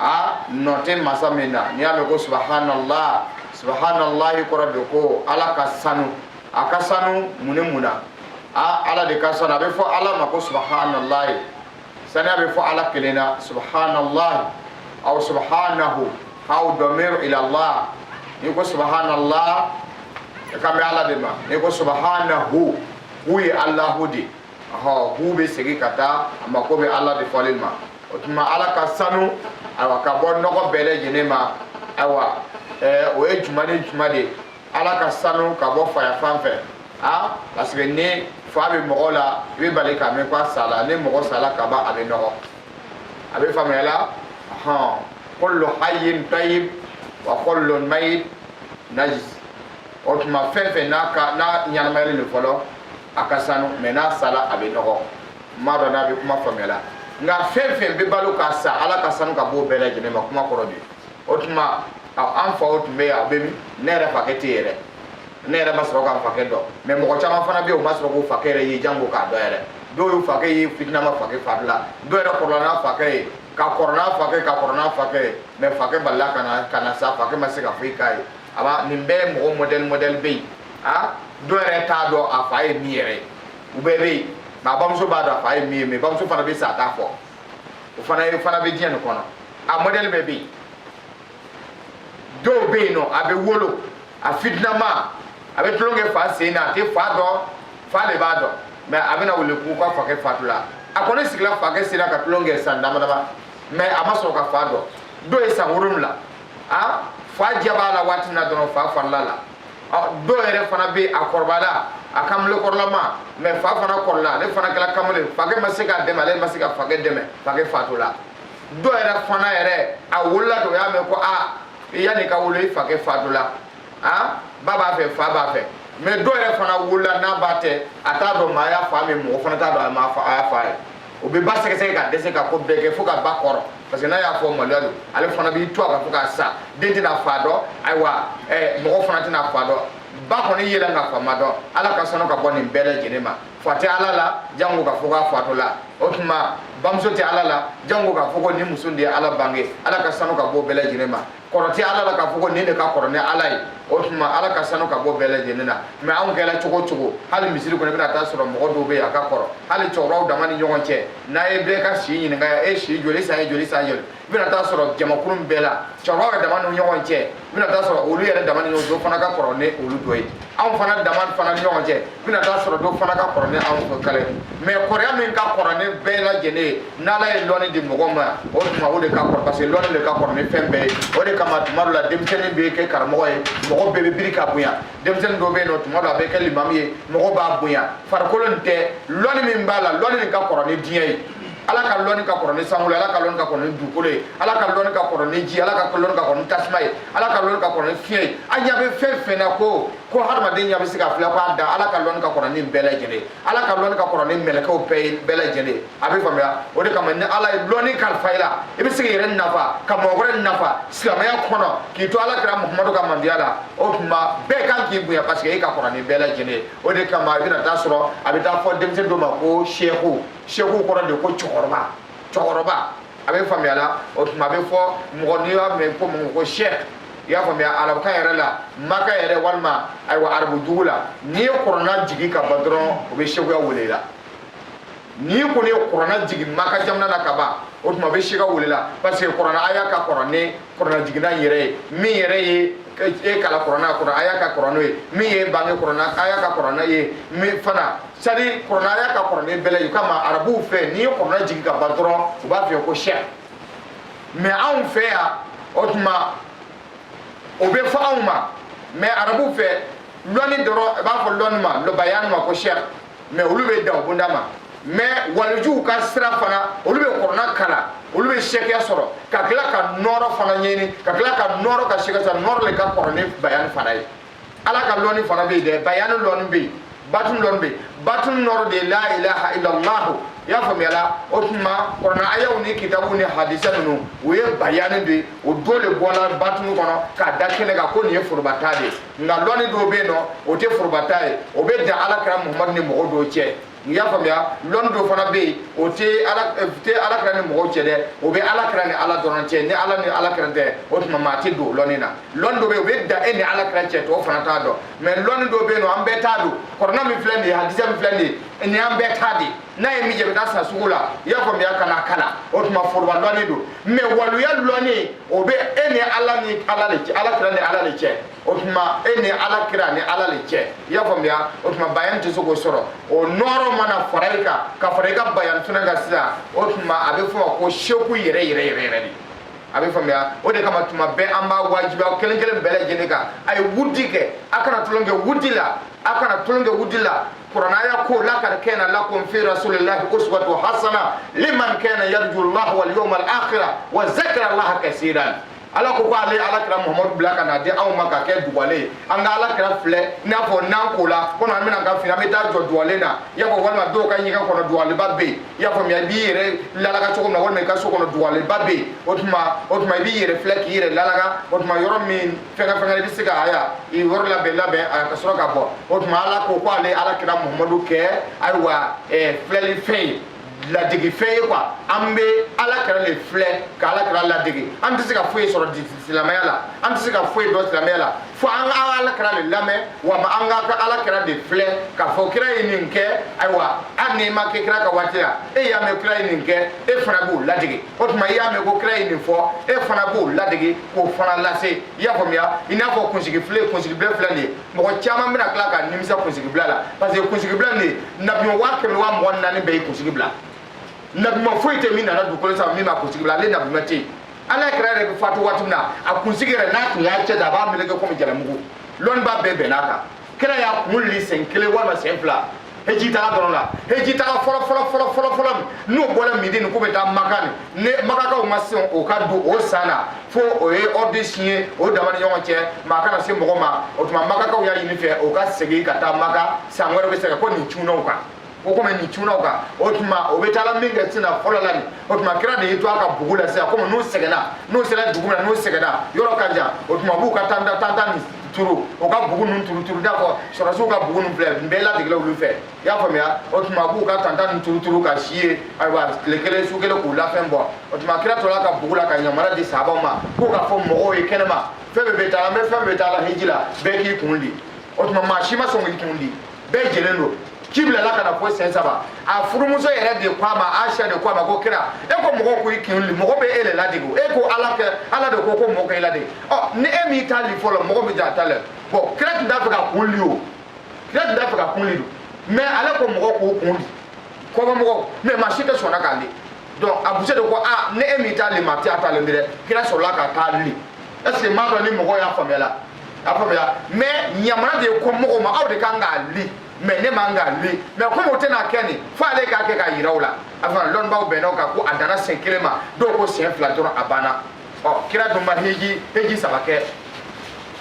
aa nɔ tɛ masa min na n'i y'a mɛn ko subahanalayi subahanalayi kɔrɔ de ko ala ka sanu a ka sanu mun ni mun na aa ala de ka sanu a bɛ fɔ ala ma ko subahanalayi saniya bɛ fɔ ala kelen na subahanalayi aw subahanahu aw damir ilallah n'i ko subahanalayi i kan bɛ ala de ma n'i ko subahanahu hu ye alahu de ye ɔ hu bɛ segin ka taa a mako bɛ ala de fɔli ma o tuma ala ka sanu ayiwa ka bɔ nɔgɔ bɛɛ lajɛlen ma ayiwa ɛɛ o ye juma ni juma de ye ala ka sanu ka bɔ faya fan fɛ a parce que ni fa bɛ mɔgɔ la i bɛ bali k'a mɛn ko a sala ni mɔgɔ sala ka ban a bɛ nɔgɔ a bɛ faamuya la hɔn kullu hayyin tayyib wa kullu mayyit najis o tuma fɛn fɛn n'a ka n'a ɲɛnamayalen don fɔlɔ a ka sanu mais n'a sala a bɛ nɔgɔ n m'a dɔn n'a bɛ kuma faamuya la nka fɛn fɛn bɛ balo ka sa ala ka sanu ka b'o bɛɛ lajɛlen ma kuma kɔrɔ de o tuma an faw tun bɛ yen a bɛ min ne yɛrɛ fakɛ tɛ yɛrɛ ne yɛrɛ ma sɔrɔ k'a fakɛ dɔn mais mɔgɔ caman fana bɛ yen o ma sɔrɔ k'u fakɛ yɛrɛ ye janko k'a dɔn yɛrɛ dɔw y'u fakɛ ye fitinama fakɛ farila dɔw yɛrɛ kɔrɔla n'a fakɛ ye ka kɔrɔ n'a fakɛ ka kɔrɔ n'a fakɛ ye mais fakɛ balila ka na ka na sa fakɛ ma se ka foyi k'a ye a b'a nin bɛɛ ye mɔgɔ mɔdɛli mɔdɛli bɛ yen a dɔ yɛrɛ t'a dɔn a fa ye min yɛrɛ ye u bɛɛ bɛ yen nka a bamuso b'a dɔn a fa ye min ye mais bamuso fana bɛ sa a t'a fɔ o fana ye fana bɛ diɲɛ nin kɔnɔ a mɔdɛli bɛɛ bɛ yen dɔw bɛ yen nɔ a bɛ wolo a fitinama a bɛ tulonkɛ fa sen na a tɛ fa dɔn fa de b'a dɔn mais a bɛna wele k'u ka fakɛ fatula a kɔni sigila fakɛ sen na ka tulonkɛ san dama dama mais a ma sɔrɔ ka fa dɔn dɔw ye san wolonwula a fa diya b'a la waati min na dɔrɔn fa farila la dɔw yɛrɛ fana bɛ a kɔrɔbala a kamale kɔrɔlama mais fa fana kɔrɔla ale fana kɛra kamale fakɛ ma se k'a dɛmɛ ale ma se ka fakɛ dɛmɛ fakɛ fatula dɔw yɛrɛ fana yɛrɛ a wolola dɔ y'a mɛn ko a yanni ka wolo i fakɛ fatula a ba b'a fɛ fa b'a fɛ mais dɔw yɛrɛ fana wolola n'a ba tɛ a t'a dɔn maa y'a fa min mɔgɔ fana t'a dɔn a y'a fa ye o bɛ ba sɛgɛsɛgɛ ka dɛsɛ ka ko bɛɛ kɛ fo ka ba kɔrɔ parce que n'a y'a fɔ maloya don ale fana b'i to a kan fo ka sa den tɛna fa dɔn ayiwa eh, mɔgɔ fana tɛna fa dɔn ba kɔni yela nka fa ma dɔn ala ka sanu ka bɔ nin bɛɛ lajɛlen ma fa tɛ ala la jango ka fɔ k'a fatula o tuma bamuso tɛ ala la jango ka fɔ ko nin muso de ye ala bange ala ka sanu ka bɔ bɛɛ lajɛlen ma kɔrɔ tɛ ala la k'a fɔ ko nin de ka kɔrɔ ni ala ye o tuma ala ka sanu ka bɔ bɛɛ lajɛlen na mais anw kɛra cogo o cogo hali misiri kɔnɔ i bɛna taa sɔrɔ mɔgɔ dɔw bɛ yen a ka kɔrɔ hali cɛkɔrɔbaw dama ni ɲɔgɔn cɛ n'a ye bɛɛ ka si ɲininka e si joli san ye joli san joli i bɛna taa sɔrɔ jamakulu bɛɛ la cɛkɔrɔbaw yɛrɛ dama ni ɲɔgɔn cɛ i bɛna taa sɔrɔ olu yɛrɛ dama ni ɲɔgɔn cɛ o fana ka kɔrɔ ni olu dɔ ye anw fana dama fana ni ɲɔgɔn cɛ i bɛna taa sɔrɔ dɔ fana ka kɔrɔ ni anw fɛ kala ye mais kɔrɔya min ka kɔrɔ ni bɛɛ lajɛlen ye n'ala ye lɔni di mɔgɔ ma o tuma o de ka kɔrɔ parce que lɔni de ka kɔrɔ ni fɛn bɛɛ ye o de kama tuma dɔ la denmisɛnnin bɛ kɛ karamɔgɔ ye mɔgɔ bɛɛ bɛ biri k'a bonya denmisɛnnin dɔw bɛ yen nɔ tuma dɔ la a bɛ kɛ limamu ye mɔgɔ b'a bonya farikolo nin tɛ lɔni min b'a la lɔni nin ka kɔrɔ ni diɲɛ ye ala ka lɔni ka kɔrɔ ni sankolo ala ka lɔni ka kɔrɔ ni dugukolo ye ala ka lɔni ka kɔrɔ ni ji ala ka lɔni ka kɔrɔ ni tasuma ye ala ka lɔni ka kɔrɔ ni fiɲɛ ye an ɲa bɛ fɛn fɛn na ko ko hadamaden ɲa bɛ se ka filɛ ko a da ala ka lɔni ka kɔrɔ ni bɛɛ lajɛlen ala ka lɔni ka kɔrɔ ni mɛlɛkɛw bɛɛ ye bɛɛ lajɛlen a bɛ faamuya o de kama ni ala ye lɔni kalifa i la i bɛ se k'i yɛrɛ nafa ka mɔgɔ wɛrɛ nafa silamɛya kɔnɔ k'i to ala kira muhamadu ka mandiya la o tuma bɛɛ kan k'i bonya parce que e ka kɔrɔ ni bɛɛ lajɛlen ye o de kama i bɛna taa sɔrɔ a bɛ taa fɔ denmisɛn dɔ ma ko seku seku kɔrɔ de ko cɛkɔrɔba cɛkɔrɔba a bɛ faamuya la o tuma a bɛ fɔ mɔgɔ n'i y'a mɛn ko mɔgɔ ko sɛk i y'a faamuya arabukan yɛrɛ la maka yɛrɛ walima ayiwa arabu dugu la n'i ye kɔrɔna jigin ka ban dɔrɔn o bɛ sekuya wele la n'i kɔni ye kɔrɔna jigin maka jamana na ka ban o tuma a bɛ seka wele la parce que kɔrɔna aya ka kɔrɔ ni kɔrɔna jiginna yɛrɛ ye min yɛrɛ ye e kala kɔrɔna kɔrɔ aya ka kɔrɔ n'o ye min y'i bange kɔrɔna aya ka kɔrɔ n'a ye min fana sadi kɔrɔna aya ka kɔrɔ ni bɛɛ lajɛlen o kama arabuw fɛ n'i ye kɔrɔna jigin ka ban dɔrɔn u b'a f'i ye ko sɛk mais anw fɛ yan o tuma o bɛ fɔ anw ma mais arabuw fɛ lɔni dɔrɔn i b'a fɔ lɔni ma lɔ bayani ma ko sɛk mais olu bɛ dan bonda ma mais walijuw ka sira fana olu bɛ kɔrɔna kala olu bɛ sɛkɛya sɔrɔ ka tila ka nɔɔrɔ fana ɲɛɲini ka tila ka nɔɔrɔ ka sɛkɛ sɔrɔ nɔɔrɔ le ka kɔrɔ ni bayani fana ye ala ka lɔni fana bɛ yen dɛ bayani lɔni bɛ yen batun lɔni bɛ yen batun nɔɔrɔ de ye la ilaha illallahu i y'a faamuya la o tuma kɔrɔna ayaw ni kitabu ni hadisa ninnu o ye bayani de ye o dɔ de bɔla batun kɔnɔ k'a da kɛnɛ kan ko nin ye foroba ta de ye nka lɔni dɔw bɛ yen nɔ o tɛ foroba ta ye o bɛ dan ala kira muhamadu ni mɔgɔ dɔw cɛ i y'a faamuya lɔni dɔ fana bɛ yen o tɛ ala eh, tɛ ala kira ni mɔgɔw cɛ dɛ o bɛ ala kira ni ala dɔrɔn cɛ ni ala ni ala kira tɛ o tuma maa tɛ don lɔni na lɔni dɔ bɛ yen o bɛ dan e ni ala kira cɛ tɔw fana t'a dɔn mais lɔni dɔ bɛ yen nɔ an bɛɛ ta don kɔrɔna min filɛ nin ye hadisa min filɛ nin ye nin y'an bɛɛ ta de ye n'a ye min jɛ bɛ taa san sugu la i y'a faamuya ka na kalan o tuma foroba lɔni don mais waluya lɔni o bɛ e ni ala ni ala de cɛ ala kira ni ala de cɛ o tuma e ni ala kira ni ala de cɛ i y'a faamuya o tuma bayan tɛ se k'o sɔrɔ o nɔɔrɔ mana fara i kan ka fara i ka bayan tuna kan sisan o tuma a bɛ fɔ ma ko seku yɛrɛ yɛrɛ yɛrɛ yɛrɛ de a bɛ faamuya o de kama tuma bɛɛ an b'a wajibi aw kelen kelen bɛɛ lajɛlen kan a ye wudi kɛ a kana tulon kɛ wudi la a kana tulon kɛ wudi la kuranɛ aya ko lakad kana lakum fi rasulillahi uswatu hasana liman kana yarju allah wal yawm al akhira wa zakara allah kaseeran ala ko ko ale ala kira muhammadu bila ka na di anw ma ka kɛ duwale ye an ka ala kira filɛ i n'a fɔ n'an kola ko an bɛna ka fini an bɛ taa jɔ duwale na i y'a fɔ walima dɔw ka ɲɛgɛn kɔnɔ duwaleba bɛ yen i y'a faamuya i b'i yɛrɛ lalaga cogo min na walima i ka so kɔnɔ duwaleba bɛ yen o tuma o tuma i b'i yɛrɛ filɛ k'i yɛrɛ lalaga o tuma yɔrɔ min fɛngɛ fɛngɛ i bɛ se ka a ya i yɔrɔ labɛn labɛn a ka sɔrɔ ka bɔ o tuma ala ko ko ale ala kira muhamadu kɛ ayiwa ɛɛ filɛlifɛn ye ladegefɛn ye quoi an bɛ ala kira de filɛ ka ala kira ladege an tɛ se ka foyi sɔrɔ silamɛya la an tɛ se ka foyi dɔn silamɛya la fo an ka ala kira de lamɛn walima an ka ala kira de filɛ k'a fɔ kira ye nin kɛ ayiwa hali n'i ma kɛ kira ka waati la e y'a mɛn kira ye nin kɛ e fana b'o ladege o tuma i y'a mɛn ko kira ye nin fɔ e fana b'o ladege k'o fana lase i y'a faamuya i n'a fɔ kunsigi filɛ kunsigibila filɛ nin ye mɔgɔ caman bɛna tila ka nimisa kunsigibila la parce que kunsigibila nin ye nabima waa kɛmɛ waa mugan ni naani bɛɛ ye kunsigi bila nabima foyi tɛ min nana dugukolo sanfɛ min ma kunsigi bila ale nabima tɛ yen ala kira yɛrɛ bɛ fatu waati min na a kunsigi yɛrɛ n'a tun y'a cɛ da a b'a meleke komi jalamugu lɔnniba bɛɛ bɛnna a kan kira y'a kun li sen kelen walima sen fila heji taga dɔrɔn la heji taga fɔlɔ fɔlɔ fɔlɔ fɔlɔ fɔlɔ n'o bɔra mɛdini k'u bɛ taa maka ni ne makakaw ma sɔn o ka don o san na fo o ye ɔrdi siɲɛ o dama ni ɲɔgɔn cɛ maa kana se mɔgɔ ma o tuma makakaw y'a ɲini fɛ o ka segin ka taa maka san wɛrɛ bɛ se ka kɛ ko nin cunna u kan o ko nin cunna u kan o tuma o bɛ taala min kɛ sinna fɔlɔ la nin o tuma kira de y'i to a ka bugu la sisan komi n'u sɛgɛnna n'u sera dugu min na n'u sɛgɛnna yɔrɔ ka jan o tuma b'u ka tanta tanta nin turu o ka bugu ninnu turu turu i n'a fɔ sɔrɔdasiw ka bugu ninnu filɛ nin bɛɛ ladegelenw olu fɛ i y'a faamuya o tuma b'u ka tanta ninnu turu turu ka si yen ayiwa tile kelen su kelen k'u lafiɲɛbɔ o tuma kira tora ka bugu la ka yamaruya di sahabaw ma k'u ka fɔ mɔgɔw ye kɛnɛma fɛn bɛɛ bɛ taa an bɛ fɛn bɛɛ bɛ taa la hiji la bɛɛ k'i kun di o tuma maa si ma sɔn k'i kun di bɛɛ jɛlen don ci bilala ka na fo sen saba a furumuso yɛrɛ de ko a ma aisha de ko a ma ko kira e ko mɔgɔw ko i kun li mɔgɔ bɛ e le ladege e ko ala kɛ ala de ko ko mɔgɔ ka i ladege ɔ ni e m'i ta li fɔlɔ mɔgɔ bɛ ja ta li bon kira tun t'a fɛ k'a kun li o kira tun t'a fɛ k'a kun li don mɛ ale ko mɔgɔ k'o kun li kɔfɛ mɔgɔ mɛ maa si tɛ sɔnna k'a li donc a muso de ko a ni e m'i ta li maa tɛ a ta li dɛ kira sɔrɔla k'a ta li est ce que n m'a dɔn ni mɔgɔ y'a faamuyala a faamuya mɛ yamaruya de ye ko mɔgɔw ma aw de kan k'a li mɛ ne man k'a li mɛ komi o tɛna kɛ nin fo ale k'a kɛ k'a yira u la a fana lɔnnibaw bɛnna o kan ko a danna sen kelen ma dɔw ko sen fila dɔrɔn a banna ɔ kira dun ma heji heji saba kɛ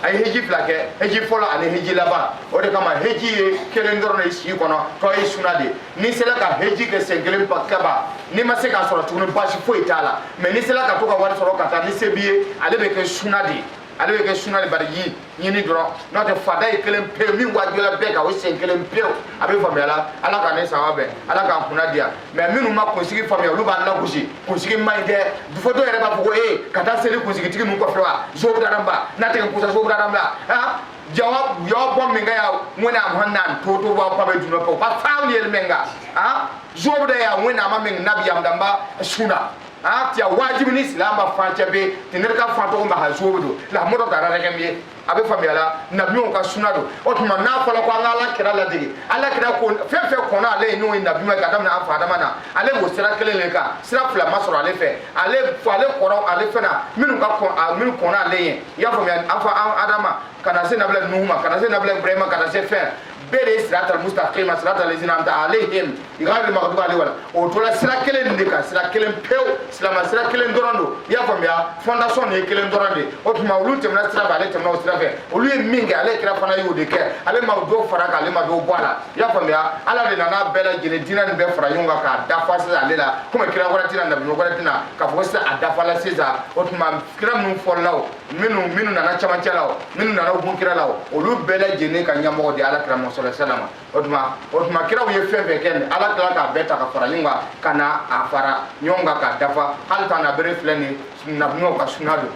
a ye heji fila kɛ heji fɔlɔ ani heji laban o de kama heji ye kelen dɔrɔn de i si kɔnɔ tɔ ye suna de n'i sera ka heji kɛ sen kelen k'a ban n'i ma se k'a sɔrɔ tuguni baasi foyi t'a la mɛ n'i sera ka to ka wari sɔrɔ ka taa ni se b'i ye ale bɛ kɛ suna de ye ale bɛ kɛ suna de baraji ɲini dɔrɔn n'o tɛ farida ye kelen pewu min wajibila bɛɛ kan o sen kelen pewu a bɛ faamuya la ala k'an ni sawaba bɛn ala k'an kunna diya mais minnu ma kunsigi faamuya olu b'an lagosi kunsigi man ɲi dɛ fo dɔw yɛrɛ b'a fɔ ko ee ka taa seli kunsigitigi ninnu kɔfɛ wa sobudara n ba n'a tɛ ka kusa sobudara n bila ah jawab jawab bom mi ngaya wona am hannan to to wa pa be juno ko pa fawli el menga ha ah, jobo da ya wona ma men nabi am damba suna a tiya wajibi ni silamɛ ma fan cɛ bɛ ten ne bɛ ka fan tɔgɔ ma ha zuwo don lahamu dɔ taara dɛgɛ min ye a bɛ faamuya la nabiɲumanw ka suna don o tuma n'a fɔra ko an ka ala kira ladege ala kira ko fɛn fɛn kɔnna ale ye n'o ye nabiɲuman ye ka daminɛ an fa adama na ale b'o sira kelen de kan sira fila ma sɔrɔ ale fɛ ale ale kɔrɔ ale fɛ ani minnu ka kɔn a minnu kɔnna ale ye i y'a faamuya an fa adama ka na se nabila nuhu ma ka na se nabila ibrahima ka na se fɛn bɛɛ de ye sirata mustaqima sirata lezina amta alayhim ghairi maghdubi alayhi wala o tora sira kelen de kan sira kelen pewu silama sira kelen dɔrɔn don i y'a faamuya fondation de ye kelen dɔrɔn de o tuma olu tɛmɛna sira fɛ ale tɛmɛna o sira fɛ olu ye min kɛ ala kira fana y'o de kɛ ale ma dɔ fara a kan ale ma dɔ bɔ a la i y'a faamuya ala de nana bɛɛ lajɛlen diinɛ nin bɛɛ fara ɲɔgɔn kan k'a dafa sisan ale la komi kira wɛrɛ tɛ na nabi wɛrɛ tɛ na k'a fɔ ko sisan a dafala sisan o tuma kira minnu fɔlɔla o minnu minnu nana camancɛ la o minnu nana gun kira la o olu bɛɛ lajɛlen ka ɲɛmɔgɔ de ala kira sallallahu alayhi wasallam o tuma o tuma kiraw ye fɛn fɛn kɛ nin ala kira k'a bɛɛ ta ka fara ɲɔgɔn kan ka na a fara ɲɔgɔn kan k'a dafa hali tan na bere filɛ nin nabiɲumanw ka suna don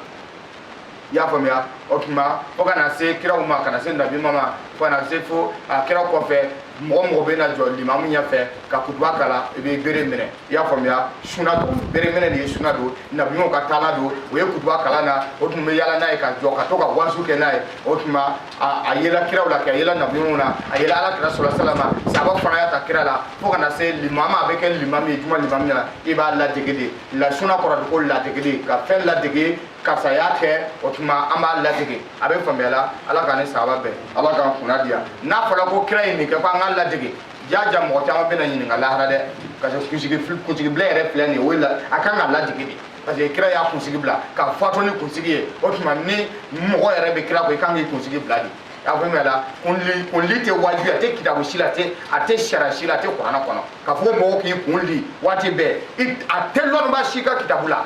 i y'a faamuya o tuma fo ka na se kiraw ma ka na se nabiɲumanw ma fo ka na se fo a kira kɔfɛ mɔgɔ mɔgɔ bɛna jɔ limamu ɲɛfɛ ka kutuba kalan i bɛ bere minɛ i y'a faamuya suna don bereminɛ de ye suna don nabiɲumanw ka taala don o ye kutuba kalan na o tun bɛ yala n'a ye ka jɔ ka to ka waaju kɛ n'a ye o tuma a yela kiraw la kɛ a yela nabiɲumanw na a yela ala kira sallallahu alayhi wasallam sahabaw fana y'a ta kira la fo ka na se limamiw ma a bɛ kɛ limami ye juma limami na i b'a ladege de la suna kɔrɔ ko ladege de ka fɛn ladege karisa y'a kɛ o tuma an b'a ladege a bɛ faamuya la ala k'an ni sawaba bɛn ala k'an kunna diya n'a fɔra ko kira ye nin kɛ ko an k'a ladege ja ja mɔgɔ caman bɛna ɲininka lahara dɛ parce que kunsigi kunsigi bila yɛrɛ filɛ nin ye o ye la a kan ka ladege de parce que kira y'a kunsigi bila ka fatu ni kunsigi ye o tuma ni mɔgɔ yɛrɛ bɛ kira kɔ i kan k'i kunsigi bila de y'a faamuya la kunli kunli tɛ wajibi a tɛ kitabu si la a tɛ a tɛ sariya si la a tɛ kuranɛ kɔnɔ k'a fɔ mɔgɔw k'i kun li waati bɛɛ i a tɛ lɔnniba si ka kitabu la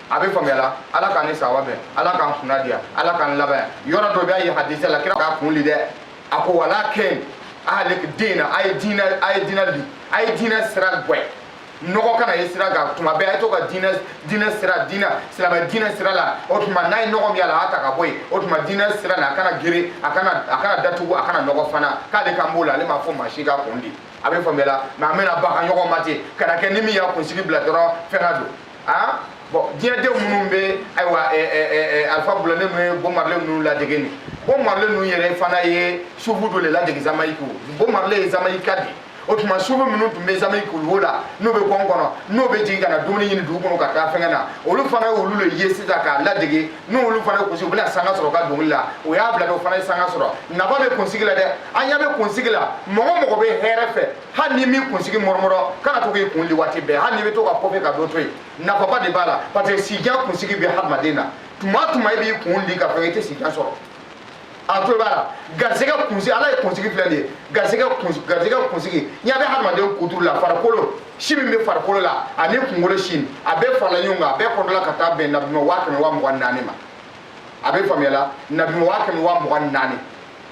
a bɛ faamuya la ala k'an ni sawaba bɛn ala k'an kunna diya ala k'an labɛn yɔrɔ dɔ bɛ a ye hadisa la kira k'a kun li dɛ a ko walakin ahlik dina a ye diinɛ a ye diinɛ li a ye diinɛ sira gwɛ nɔgɔ kana ye sira kan tuma bɛɛ a ye to ka diinɛ diinɛ sira diinɛ silamɛ diinɛ sira la o tuma n'a ye nɔgɔ min y'a la a y'a ta ka bɔ yen o tuma diinɛ sira la a kana geren a kana a kana datugu a kana nɔgɔ fana k'ale kan b'o la ale m'a fɔ maa si ka kun di a bɛ faamuyala mais an bɛna baga ɲɔgɔn ma ten kana kɛ ni min y'a kunsigi bila dɔrɔn fɛn ka don aa bɔn diɲɛdenw minnu bɛ ayiwa alpha blondy ninnu ye bob marley ninnu ladege nin bob marley ninnu yɛrɛ fana ye sufu dɔ de ladege jamaïque bob marley ye jamaïcain de o tuma sufu minnu tun bɛ jamaïque kuluwo la n'o bɛ gɔn kɔnɔ n'o bɛ jigin ka na dumuni ɲini dugu kɔnɔ ka taa fɛngɛ na olu fana ye olu de ye sisan k'a ladege n'olu fana gosi u bɛna sanga sɔrɔ ka dɔnkili la o y'a bila dɔ fana ye sanga sɔrɔ nafa bɛ kunsigi la dɛ an ɲɛ bɛ kunsigi la mɔgɔ mɔgɔ bɛ hɛrɛ fɛ hali ni min kunsigi mɔrɔmɔrɔ kana to k'i kun li waati bɛɛ hali n'i bɛ to ka kɔfɛ ka dɔ to yen nafaba de b'a la parce que sijan kunsigi bɛ hadamaden na tuma o tuma i b'i kun li ka fɛn i tɛ sijan sɔrɔ a tulo b'a la garisɛgɛ kunsigi ala ye kunsigi filɛ nin ye garisɛgɛ kunsigi garisɛgɛ kunsigi n'i y'a bɛ hadamaden kuturu la farikolo si min bɛ farikolo la ani kunkolo si a bɛɛ farala ɲɔgɔn kan a bɛɛ kɔdɔla ka taa bɛn nabima waa kɛmɛ waa mugan ni naani ma a bɛ faamuyala nabima waa kɛmɛ waa mugan naani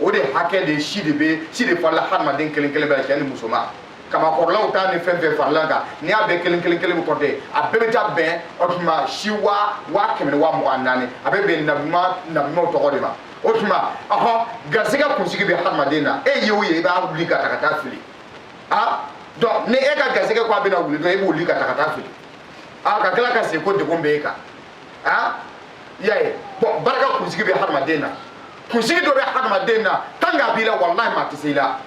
o de hakɛ de si de bɛ si de farila hadamaden kelen kelen bɛɛ la cɛ ni musoman kamakɔrɔlaw ta ni fɛn fɛn farala kan n'i y'a bɛɛ kelen kelen kelen kɔnte a bɛɛ bɛ taa bɛn o tuma si waa waa kɛmɛ ni waa mugan naani a bɛ bɛn nabima nabimaw tɔgɔ de ma o tuma ɔhɔ garisɛgɛ kunsigi bɛ hadamaden na e ye o ye i b'o li k'a ta ka taa fili donc ni e ka garisɛgɛ ko a bɛna wuli dɔrɔn e b'o li k'a ta ka taa fili a ka tila ka segin ko degun bɛ e kan a i y'a ye bɔn barika kunsigi bɛ hadamaden na kunsigi dɔ bɛ hadamaden na tant que a b'i la walahi maa tɛ se i la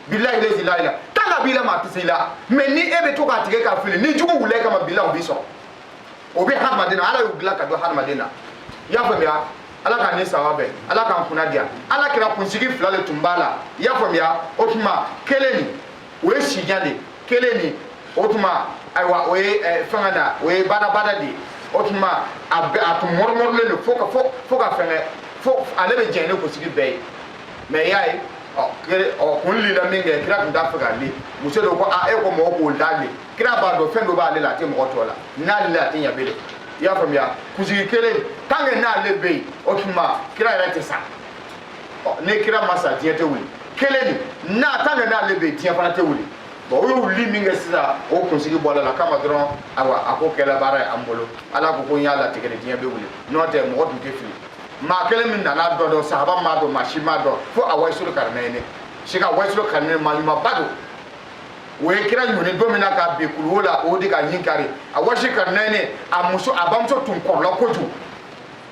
bilahi lazi la ila tant que a b'i la maa tɛ se i la mɛ ni e bɛ to k'a tigɛ k'a fili ni jugu wulila e kama bilahi o b'i sɔrɔ o bɛ hadamaden na ala y'u dilan ka don hadamaden na i y'a faamuya ala k'an ni sawaba bɛn ala k'an kunna diya ala kira kunsigi fila de tun b'a la i y'a faamuya o tuma kelen nin o ye sijan de kelen nin o tuma ayiwa o ye eh, fɛngɛ na o ye badabada de ye o tuma a bɛ a tun mɔrɔmɔrɔlen don fo ka fo fo ka fɛngɛ fo ale bɛ jɛn ni kunsigi bɛɛ ye mɛ i y'a ye ɔ kira ɔ kun lila min kɛ kira tun t'a fɛ k'a li muso de ko a e ko mɔgɔ k'o da li kira b'a dɔn fɛn dɔ b'ale la a tɛ mɔgɔ tɔ la n'ale li a tɛ ɲɛ bilen i y'a faamuya kunsigi kelen tant que n'ale bɛ yen o tuma kira yɛrɛ tɛ sa ni kira ma sa diɲɛ tɛ wuli kelen nin tant que n'ale bɛ yen diɲɛ fana tɛ wuli bɔn o y'o li min kɛ sisan o kunsigi bɔ a la kama dɔrɔn awa a ko kɛla baara ye an bolo ala ko ko n y'a latigɛ de diɲɛ bɛ wuli n'o tɛ mɔgɔ tun tɛ fili maa kelen min nana o dɔn sahaba m'a dɔn maa si m'a dɔn fo a wayisolo karina ye ne si ka wayisolo karina ye maaɲumanba don o ye kira ɲɔni don min na ka bin kuluwo la o de k'a ɲin kari a wayisolo karina ye ne a muso a bamuso tun kɔrɔla kojugu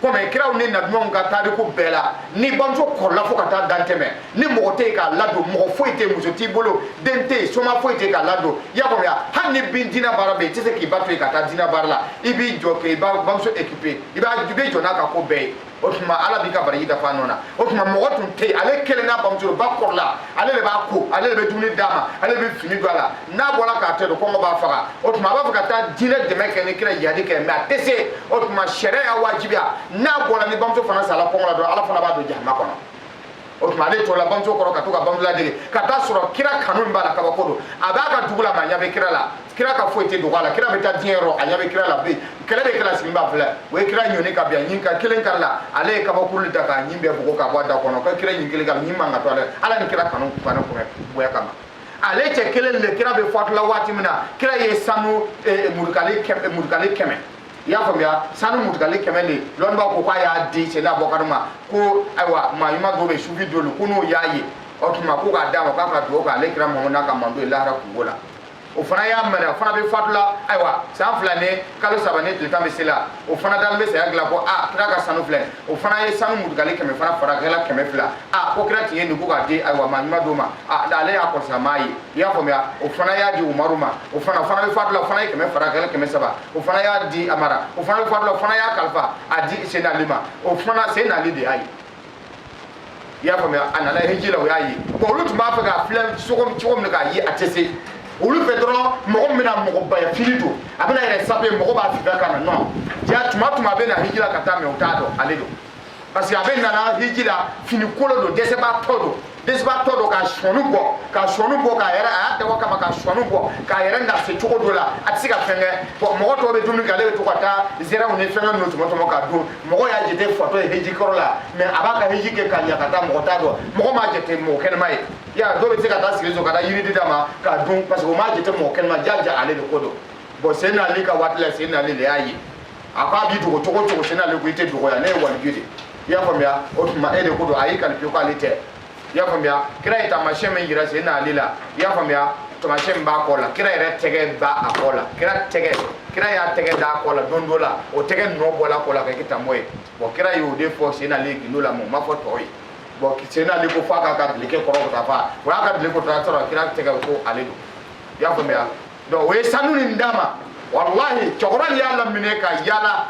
komi kiraw ni nabiɲumanw ka tariku bɛɛ la ni bamuso kɔrɔla fo ka taa dan tɛmɛ ni mɔgɔ tɛ yen k'a ladon mɔgɔ foyi tɛ yen muso t'i bolo den tɛ yen soma foyi tɛ yen k'a ladon i y'a faamuya hali ni bi diinɛ baara bɛ yen i tɛ se k'i ba to yen ka taa diinɛ baara la i b'i jɔ k'i bamuso ekipe i b'a i bɛ jɔ n'a ka ko bɛɛ ye o tuma ala b'i ka baraji dafa nɔ na o tuma mɔgɔ tun tɛ yen ale kelen n'a bamuso ba kɔrɔla ale de b'a ko ale de bɛ dumuni d'a ma ale de bɛ fini don a la n'a bɔra k'a to yen kɔngɔ b'a faga o tuma a b'a fɛ ka taa diinɛ dɛmɛ kɛ ni kira jihadi kɛ mais a tɛ se o tuma sariya y'a wajibiya n'a bɔra ni bamuso fana sala kɔngɔ la dɔrɔn ala fana b'a don jahama kɔnɔ o tuma ale tola bamuso kɔrɔ ka to ka bamuso ladege ka t'a sɔrɔ kira kanu min b'a la kabako don a b'a ka dugu la mais a ɲɛ bɛ kira la kira ka foyi tɛ dogo a la kira bɛ taa diɲɛ yɔrɔ a ɲɛ bɛ kira la bɛ kɛlɛ bɛ kira sigilen b'a filɛ o ye kira ɲɔni ka bin a ɲin ka kelen karila ale ye kabakuru ta k'a ɲin bɛɛ bugɔ ka bɔ a da kɔnɔ ko kira ɲin kelen ka ɲin man ka to a la ala ni kira kanu fana bonya kama ale cɛ kelen de kira bɛ fatula waati min na kira ye sanu eh, mutukali kɛmɛ mutukali kɛmɛ i y'a faamuya sanu mutukali kɛmɛ de lɔnnibaw ko k'a y'a di sena abubakari ma ko ayiwa maa ɲuman dɔ bɛ sufi dolu ko n'o y'a ye o tuma ko k'a d'a ma k'a ka dugawu k'ale kira mamadu n'a ka mantɔn ye lahara kunko la o fana y'a mara o fana bɛ fatula ayiwa san fila ni kalo saba ni tile tan bɛ se la o fana dalen bɛ saya dilan ko a kira ka sanu filɛ o fana ye sanu mutukali kɛmɛ fana fara a kɛla kɛmɛ fila a ko kira tun ye nin ko k'a di ayiwa maa ɲuman dɔ ma a ale y'a kɔlɔsi a m'a ye i y'a faamuya o fana y'a di umaru ma o fana o fana bɛ fatula o fana ye kɛmɛ fara a kɛla kɛmɛ saba o fana y'a di amara o fana bɛ fatula o fana y'a kalifa a di senali ma o fana senali de y'a ye i y'a faamuya a nana hiji la o y'a ye bon olu tun b'a fɛ k'a filɛ cogo cogo min k'a ye a tɛ se olu fɛ dɔrɔn mɔgɔ min bɛna mɔgɔbaya fini don a bɛn'a yɛrɛ sape mɔgɔ b'a fifa ka na nɔn jaa tuma tuma a bɛ na hiji la ka taa mais o t'a dɔn ale don parce que a bɛ nana hiji la fini kolon don dɛsɛbaatɔ don dɛsɛbaatɔ don ka sɔni bɔ ka sɔni bɔ k'a yɛrɛ a y'a dabɔ kama ka sɔni bɔ k'a yɛrɛ nagasi cogo dɔ la a tɛ se ka fɛn kɛ bon mɔgɔ tɔw bɛ dumuni kɛ ale bɛ to ka taa zɛrɛnw ni fɛngɛ ninnu tɔmɔ tɔmɔ ka dun mɔgɔ y'a jate fatɔ ye hiji kɔrɔ la mais a b'a ka hiji kɛ ka ɲa ka taa mɔgɔ t'a dɔn mɔgɔ m'a jate mɔgɔ kɛnɛma ye ya dɔw bɛ se ka taa sigi so ka taa yiriden d'a ma k'a dun parce que o m'a jate mɔgɔ kɛnɛma jaja ale de ko don bon senali ka waati la senali de y'a ye a ko a b'i dogo cogo cogo senali ko i tɛ dogo yan ne ye waliju de i y'a faamuya o tuma e de ko don a y'i qualifier ko ale tɛ i y'a faamuya kira ye taamasiyɛn min jira senali la i y'a faamuya taamasiyɛn min b'a kɔ la kira yɛrɛ tɛgɛ b'a a kɔ la kira tɛgɛ kira y'a tɛgɛ d'a kɔ la don dɔ la o tɛgɛ nɔ bɔla kɔ la ka kɛ tamɔ ye bon kira y'o de fɔ senali gindo la mais o ma fɔ tɔw ye bon senali ko f'a k'a ka dilike kɔrɔ ka taa fa o y'a ka dilike kɔrɔta sɔrɔ kira tɛgɛ ko ale don i y'a faamuya donc o ye sanu nin d'a ma walahi cɛkɔrɔba nin y'a laminɛ ka yaala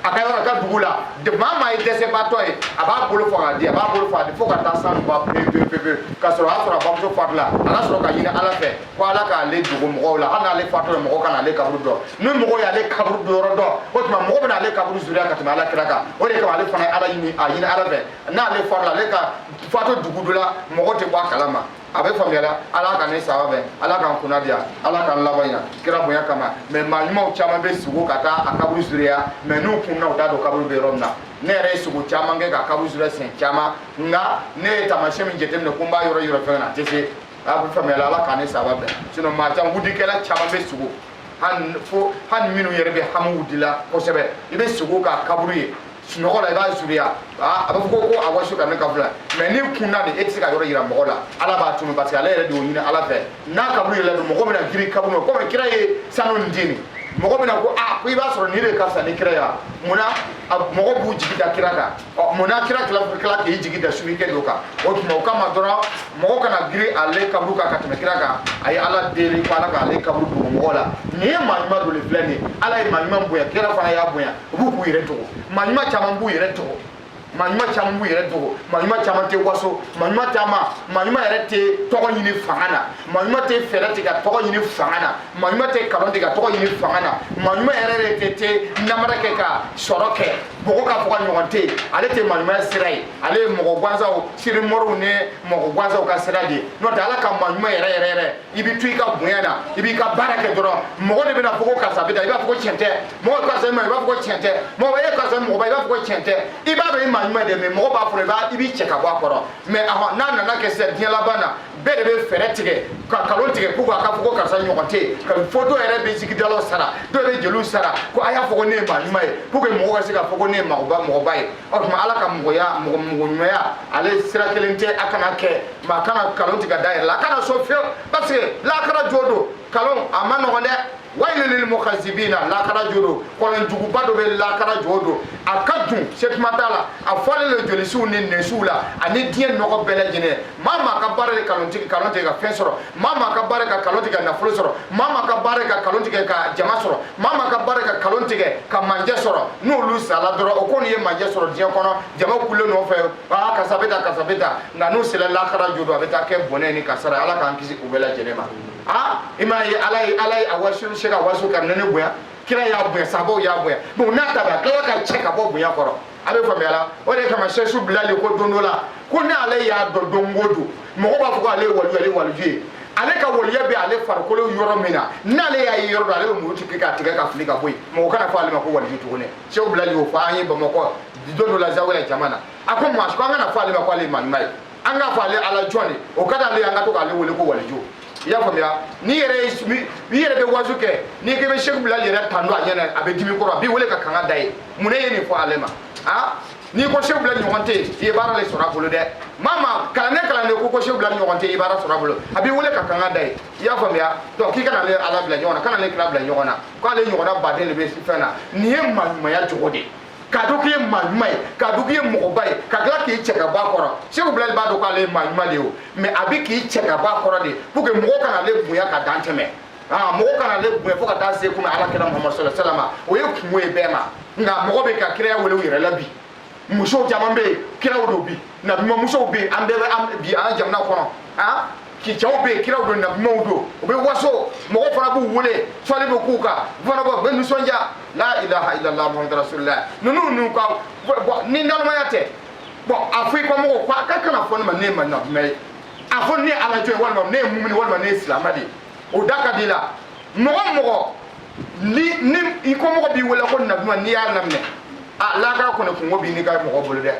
a ka yɔrɔ ka dugu la maa maa ye dɛsɛbaatɔ ye a b'a bolo fɔ k'a di a b'a bolo fɔ a di fo ka taa sanu ban pewu pewu pewu k'a sɔrɔ a y'a sɔrɔ a bamuso fatula a ka sɔrɔ k'a ɲini ala fɛ ko ala k'ale dogo mɔgɔw la hali n'ale fatula mɔgɔ kana ale kaburu dɔn ni mɔgɔ y'ale kaburu don yɔrɔ dɔn o tuma mɔgɔ bɛna ale kaburu ziyara ka tɛmɛ ala kira kan o de kama ale fana ye ala ɲini a ɲini ala fɛ n'ale fatula ale ka fatu dugu dɔ la mɔgɔ tɛ bɔ a kalama a bɛ faamuyala ala k'an ni saba bɛn ala k'an kunna diya ala k'an laban ɲa kira bonya kama mais maa ɲumanw caman bɛ sugo ka taa a kaburu zureya mais n'u kunna u t'a dɔn kaburu bɛ yɔrɔ min na ne yɛrɛ ye sugo caman kɛ ka kaburu zure siɲɛ caman nka ne ye taamasiyɛn min jateminɛ ko n b'a yɔrɔ yɔrɔ fɛn na a tɛ se a bɛ faamuyala ala k'an ni saba bɛn sinon maa caman wudikɛla caman bɛ sugo hali fo hali minnu yɛrɛ bɛ hami wudi la kosɛbɛ i bɛ sugo k'a kaburu ye sunɔgɔ la i b'a zuriya a b'a fɔ ko ko awasu kanɛ ka filɛ mais n'i kunna de e tɛ se k'a yɔrɔ yira mɔgɔ la ala b'a tunu parce que ale yɛrɛ de y'o ɲini ala fɛ n'a kaburu yɔrɔ dɔn mɔgɔ bɛna girin kaburu ma komi kira ye sanu nin di nin mɔgɔ bɛna ko a ko i b'a sɔrɔ nin de ka fisa ni kira ye wa munna mɔgɔ b'u jigi da kira kan ɔ munna kira tila tila k'i jigi da sunikɛ dɔ kan o tuma o kama dɔrɔn mɔgɔ kana girin ale kaburu kan ka tɛmɛ kira kan a ye ala deli ko ala k'ale kaburu dogo mɔgɔ la nin ye maa ɲuman dɔ de filɛ nin ye ala ye maa ɲuman bonya kira fana y'a bonya u b'u k'u yɛrɛ dogo maa ɲuman caman b'u yɛrɛ dogo maa ɲuman caman b'u yɛrɛ dogo maa ɲuman caman tɛ waso maa ɲuman caman maa ɲuman yɛrɛ tɛ tɔgɔ ɲini fanga na maa ɲuman tɛ fɛɛrɛ tigɛ ka tɔgɔ ɲini fanga na maa ɲuman tɛ kalon tigɛ ka tɔgɔ ɲini fanga na maa ɲuman yɛrɛ de tɛ tɛ namara kɛ ka sɔrɔ kɛ mɔgɔ k'a fɔ k'a ɲɔgɔn tɛ yen ale tɛ maa ɲuman sira ye ale ye mɔgɔ gansanw sirimɔriw ni mɔgɔ gansanw ka sira de ye n'o tɛ ala ka maa ɲuman yɛrɛ yɛrɛ yɛrɛ i bɛ to i ka bonya na i b'i ka baara kɛ dɔrɔn mɔgɔ de bɛna fɔ ko karisa bɛ tan i b'a fɔ ko tiɲɛ tɛ mɔgɔ karisa ma i b'a fɔ ko tiɲɛ tɛ mɔgɔ e karisa mɔgɔba i b'a fɔ ko tiɲɛ tɛ i b'a dɔn i maa ɲuman de mais mɔgɔ b'a fɔ i b'a i b'i cɛ ka bɔ a kɔrɔ mais ahɔn n'a nana kɛ sisan diɲɛ laban na bɛɛ de bɛ fɛɛrɛ tigɛ ka kalon tigɛ pour que a ka fɔ ko karisa ɲɔgɔn tɛ yen ka fɔ dɔw yɛrɛ bɛ zikiridalaw sara dɔw bɛ jeliw sara ko a y'a fɔ ko ne ye maa ɲuman ye pour que mɔgɔ ka se k'a fɔ ko ne ye mɔgɔba mɔgɔba ye o tuma ala ka mɔgɔya mɔgɔ mɔgɔɲumanya ale sira kelen tɛ a kana kɛ maa kana kalon tigɛ k'a da yɛrɛ la a kana sɔn fiyewu parce que lakara jɔ don kalon a ma nɔgɔn dɛ wayilun lil mukazzibina lakara jɔ don kɔlɔn juguba dɔ bɛ lakara jɔ don a ka dun se kuma t'a la a falen don jolisu ni nɛnsu la ani diɲɛ nɔgɔ bɛɛ lajɛlen maa maa ka baara de kalon tigɛ kalon tigɛ ka fɛn sɔrɔ maa maa ka baara ka kalon tigɛ ka nafolo sɔrɔ maa maa ka baara ka kalon tigɛ ka jama sɔrɔ maa maa ka baara ka kalon tigɛ ka manjɛ sɔrɔ n'olu sala dɔrɔn o kɔni ye manjɛ sɔrɔ diɲɛ kɔnɔ jama tugulen nɔfɛ aa karisa bɛ tan karisa bɛ tan nka n'u sera lakara jɔ don a bɛ taa kɛ bɔnɛ ni kasara ala k'an kisi u bɛɛ lajɛlen ma aa i m'a ye ala ye ala ye awasu sɛku awasu kanɛnɛ bonya kira y'a bonya sabaw y'a bonya bon n'a ta bɛɛ a tilala k'a cɛ ka bɔ bonya kɔrɔ a bɛ faamuya la o de kama sɛku sufi bilali ko don dɔ la ko ni ale y'a dɔn don o don mɔgɔ b'a fɔ ko ale ye waliyu ale ye waliyu ye ale ka waliya bɛ ale farikolo yɔrɔ min na n'ale y'a yɔrɔ dɔn ale bɛ muru tigɛ k'a tigɛ k'a fili ka bɔ yen mɔgɔ kana fɔ ale ma ko waliyu tuguni sɛku sufi bilali y'o fɔ an ye bamakɔ don dɔ la zawiya la jama na a ko maa si ko an kana fɔ ale ma ko ale ye malima ye an k'a fɔ ale ala jɔn de o ka d'ale an ka to k'ale wele ko waliju i y'a faamuya n'i yɛrɛ i yɛrɛ bɛ wazu kɛ n'i k'i bɛ sɛki bilali yɛrɛ tando a ɲɛ na a bɛ dimi i kɔrɔ a b'i wele ka kanga da ye mun ne ye nin fɔ ale ma a n'i ko sɛki bilali ɲɔgɔn tɛ yen i ye baara de sɔrɔ a bolo dɛ maa ma kalanden kalanden ko ko sɛki bilali ɲɔgɔn tɛ yen i ye baara sɔrɔ a bolo a b'i wele ka kanga da ye i y'a faamuya donc k'i kana ale ala bila ɲɔgɔn na kana ale kira bila ɲɔgɔn na k'ale ɲɔgɔnna baden de bɛ fɛn na nin ye maaɲumanya jogo de ye k'a dɔn k'e maa ɲuman ye k'a dɔn k'e mɔgɔba ye ka tila k'i cɛ ka bɔ a kɔrɔ sɛki bilali b'a dɔn k'ale ye maa ɲuman de ye o mɛ a bɛ k'i cɛ ka bɔ a kɔrɔ de pour que mɔgɔ kana ale bonya ka dan tɛmɛ ah, mɔgɔ kana ale bonya fo ka taa se kunna ala kira muhamadu sallallahu alayhi wasallam o ye kunko ye bɛɛ ma nka mɔgɔ bɛ ka kiraya wele u yɛrɛ la bi musow caman bɛ yen kiraw don bi nabimamusow bɛ yen an bɛɛ bɛ bi an jamana kɔnɔ ah, ki cɛw bɛ kiraw don nabimaw don u bɛ waso mɔgɔ fana b'u wele sali bɛ k'u kan u fana bɔ u bɛ nisɔndiya la ilaha illallah muhammadu rasulillah ninnu ninnu ka bɔn ni nalomaya tɛ bɔn a fɔ i ka mɔgɔw ko a ka kana fɔ ne ma ne ye nabima ye a fɔ ne ye ala jɔn ye walima ne ye mumini walima ne ye silama de ye o da ka di i la mɔgɔ mɔgɔ ni ni i ko mɔgɔ b'i wele ko nabima n'i y'a laminɛ a lahara kɔni kunko b'i n'i ka mɔgɔ bolo dɛ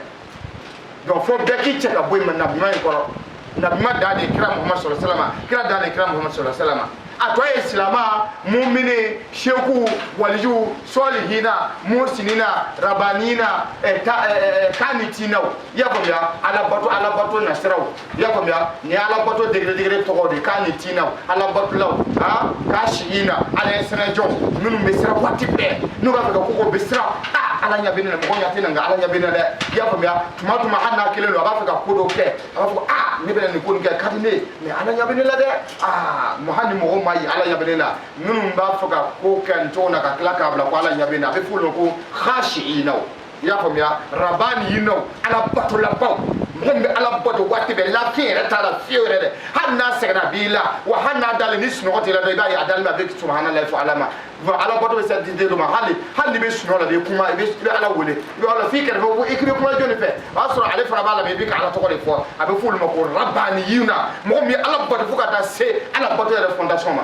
donc fo bɛɛ k'i cɛ ka bɔ yen nabi ɲuman in kɔrɔ nabi ɲuman dan de kira muhamadu sallallahu alayhi wasallam kira dan de kira muhamadu sallallahu alayhi wasallam a tɔ ye silama mumini seku waliju sɔlihina muhsinina rabanina eh, ta, eh, eh, eh kanitinaw i y'a faamuya alabato alabato nasiraw i y'a faamuya nin ye alabato degré degré tɔgɔ de kanitiinaw alabatolaw a haasiina ala ɲɛsiran jɔnw minnu bɛ siran waati bɛɛ n'u b'a fɛ ka ko kɛ u bɛ siran a ala ɲɛ bɛ ne na mɔgɔ ɲɛ tɛ n na nka ala ɲɛ bɛ ne dɛ i y'a faamuya tuma tuma hali n'a kelen don a b'a fɛ ka ko dɔ kɛ a b'a fɔ a ne bɛna nin ko nin kɛ ka di ne ye mɛ ala ɲɛ bɛ ne la dɛ a hali ni mɔgɔ m'a ye ala ɲɛ bɛ ne la minnu b'a fɛ ka ko kɛ nin cogo na ka tila k'a bila ko ala ɲɛ bɛ ne a bɛ f'olu ma ko haasiinaw i y'a faamuya rabaniyinaw alabatolabaw mɔgɔ min bɛ ala bato waati bɛɛ lafiɲɛ yɛrɛ t'a la fiyew yɛrɛ dɛ hali n'a sɛgɛnna a b'i la wa hali n'a dalen ni sunɔgɔ t'i la dɔrɔn i b'a ye a dalen bɛ a bɛ subahanalayi fɔ ala ma ala bato bɛ se degré dɔ ma hali hali n'i bɛ sunɔgɔ la i bɛ kuma i bɛ i bɛ ala wele i bɛ ala f'i kɛrɛfɛ ko i bɛ kuma jɔni fɛ o y'a sɔrɔ ale fana b'a lamɛn i bɛ ka ala tɔgɔ de fɔ a bɛ fɔ olu ma ko rabaniyina mɔgɔ min ye ala bato fo ka taa se ala bato yɛrɛ fondation ma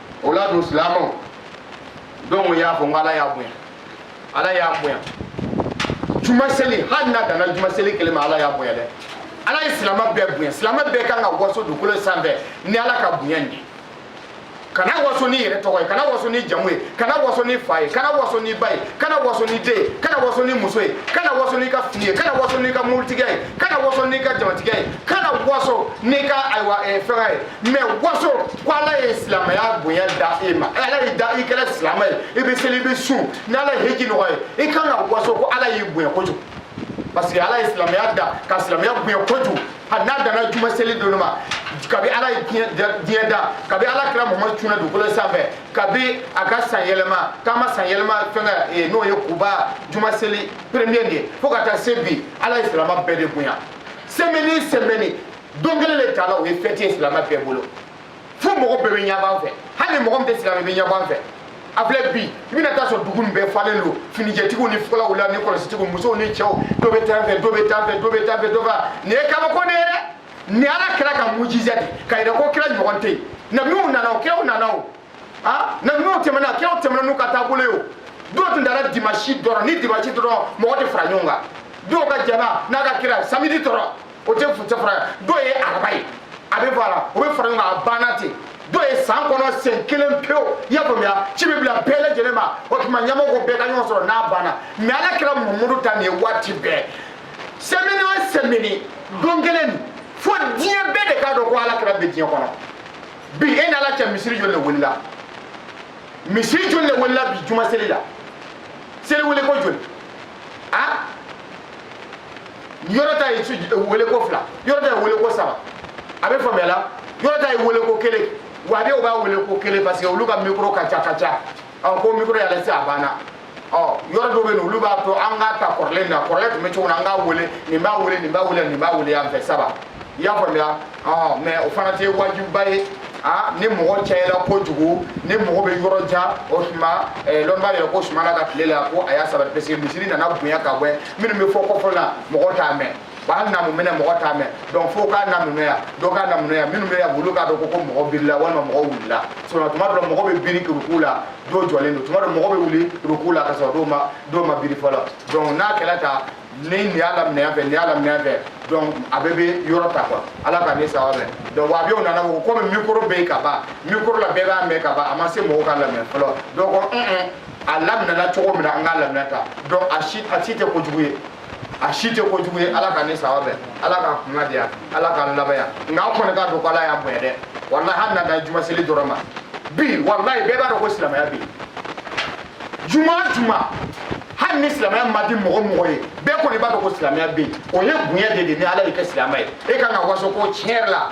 o la dun silamɛw donc n y'a fɔ n ko ala y'an bonya ala y'an bonya juma seli hali n'a danna juma seli kelen ma ala y'an bonya dɛ ala ye silamɛ bɛɛ bonya silamɛ bɛɛ kan ka waso dugukolo sanfɛ ni ala ka bonya nin ye kana waso n'i yɛrɛ tɔgɔ ye kana waso n'i jamu ye kana waso n'i fa ye kana waso n'i ba ye kana waso n'i den ye kana waso n'i muso ye kana waso n'i ka fini ye kana waso n'i ka moritigiya ye kana waso n'i ka jamatigiya ye kana waso n'i ka ayiwa eh, fɛnkɛ ye mais waso ko ala ye silamɛya bonya da e ma ala y'i da i kɛra silamɛ ye i bɛ seli i bɛ sun ni ala ye hiji nɔgɔya i kan ka waso ko ala y'i bonya kojugu parce que ala ye silamɛya da ka silamɛya bonya kojugu hali n'a danna juma seli dɔrɔn ma kabi ala ye diɲɛ da kabi ala kira mamadu cunna dugukolo sanfɛ kabi a ka san yɛlɛma k'a ma san yɛlɛma fɛnkɛ n'o ye kuba juma seli premier de ye fo ka taa se bi ala ye silamɛ bɛɛ de bonya sɛmɛni sɛmɛni don kelen de tala o ye fɛti ye silamɛ bɛɛ bolo fo mɔgɔ bɛɛ bɛ ɲɛbɔ an fɛ hali mɔgɔ min tɛ silamɛ bɛ ɲɛbɔ an fɛ a filɛ bi i bɛna taa sɔrɔ dugu nin bɛɛ falen don finijɛtigiw ni fulaw la ni kɔlɔsitigiw musow ni cɛw dɔ bɛ tan fɛ dɔ bɛ tan fɛ dɔ bɛ tan fɛ dɔ bɛ nin ye kabako de ye dɛ nin ala kira ka mujiza de k'a yira ko kira ɲɔgɔn tɛ yen nabiw nana o kiraw nana o ah nabiw tɛmɛna kiraw tɛmɛna n'u ka taabolo ye o dɔw tun dara dimasi dɔrɔn ni dimasi dɔrɔn mɔgɔ tɛ fara ɲɔgɔn kan dɔw ka jama n'a ka kira samedi dɔrɔn o tɛ cɛ fara ye dɔw ye araba ye a bɛ voilà o bɛ fara ɲɔgɔn kan a banna ten dɔw ye san kɔnɔ sen kelen pewu i y'a faamuya ci bɛ bila bɛɛ lajɛlen ma o tuma ɲɛmɔgɔ ko bɛɛ ka ɲɔgɔn sɔrɔ n'a banna mais ala kira mamadu ta nin ye waati bɛɛ sɛmɛni o sɛmɛni don kelen fo diɲɛ bɛɛ de k'a dɔn ko ala kira bɛ diɲɛ kɔnɔ bi e ni ala cɛ misiri joli de wulila misiri joli de wulila bi juma seli la seli wele ko joli a yɔrɔ ta ye wele ko fila yɔrɔ ta ye wele ko saba a bɛ faamuya la yɔrɔ ta ye wele ko kelen wahabiyaw b'a wele ko kelen parce que olu ka mikoro ka ca ka ca ɔ ko mikoro y'a lase a banna ɔ yɔrɔ dɔw bɛ yen olu b'a to an k'a ta kɔrɔlen na kɔrɔlen tun bɛ cogo min na an k'a wele nin b'a wele nin b'a wele nin b'a wele yan fɛ saba i y'a faamuya ɔ mais o fana tɛ wajibiba ye a ni mɔgɔ cayala kojugu ni mɔgɔ bɛ yɔrɔ jan o tuma lɔnni b'a yira ko sumana ka tile la ko a y'a saba parce que misiri nana bonya ka bɔ minnu bɛ fo kɔfɛla mɔgɔ t'a mɛn wa hali n'a mumɛnɛ mɔgɔ t'a mɛn donc fo k'a naminɛ yan dɔ k'a naminɛ yan minnu bɛ yan olu k'a dɔn ko ko mɔgɔ birila walima mɔgɔ wulila sinon tuma dɔ mɔgɔ bɛ biri ruku la dɔw jɔlen don tuma dɔ mɔgɔ bɛ wuli ruku la ka sɔrɔ dɔw ma dɔw ma biri fɔlɔ donc n'a kɛra tan ni nin y'a laminɛ yan fɛ nin y'a laminɛ yan fɛ donc a bɛɛ bɛ yɔrɔ ta quoi ala k'an ni sawabu bɛn donc wahabiyaw nana ko komi mikoro bɛ yen ka ban mikoro la bɛɛ b'a mɛn ka ban a ma se mɔgɔw k'a lamɛn fɔlɔ donc ko un un a laminɛna cogo min na an k'a laminɛ tan donc a si a si tɛ kojugu ye a si tɛ kojugu ye ala k'an ni sawabu bɛn ala k'an kunnadiya ala k'an laban ɲa nka an kɔni k'a dɔn ko ala y'an bonya dɛ walahi hali n'a dan juma seli dɔrɔn ma bi walahi bɛɛ b'a dɔn ko silamɛya bɛ yen juma o juma hali ni silamɛya ma di mɔgɔ o mɔgɔ ye bɛɛ kɔni b'a dɔn ko silamɛya bɛ yen o ye bonya de ye ni ala y'i kɛ silamɛ ye e kan ka waso ko tiɲɛ yɛrɛ la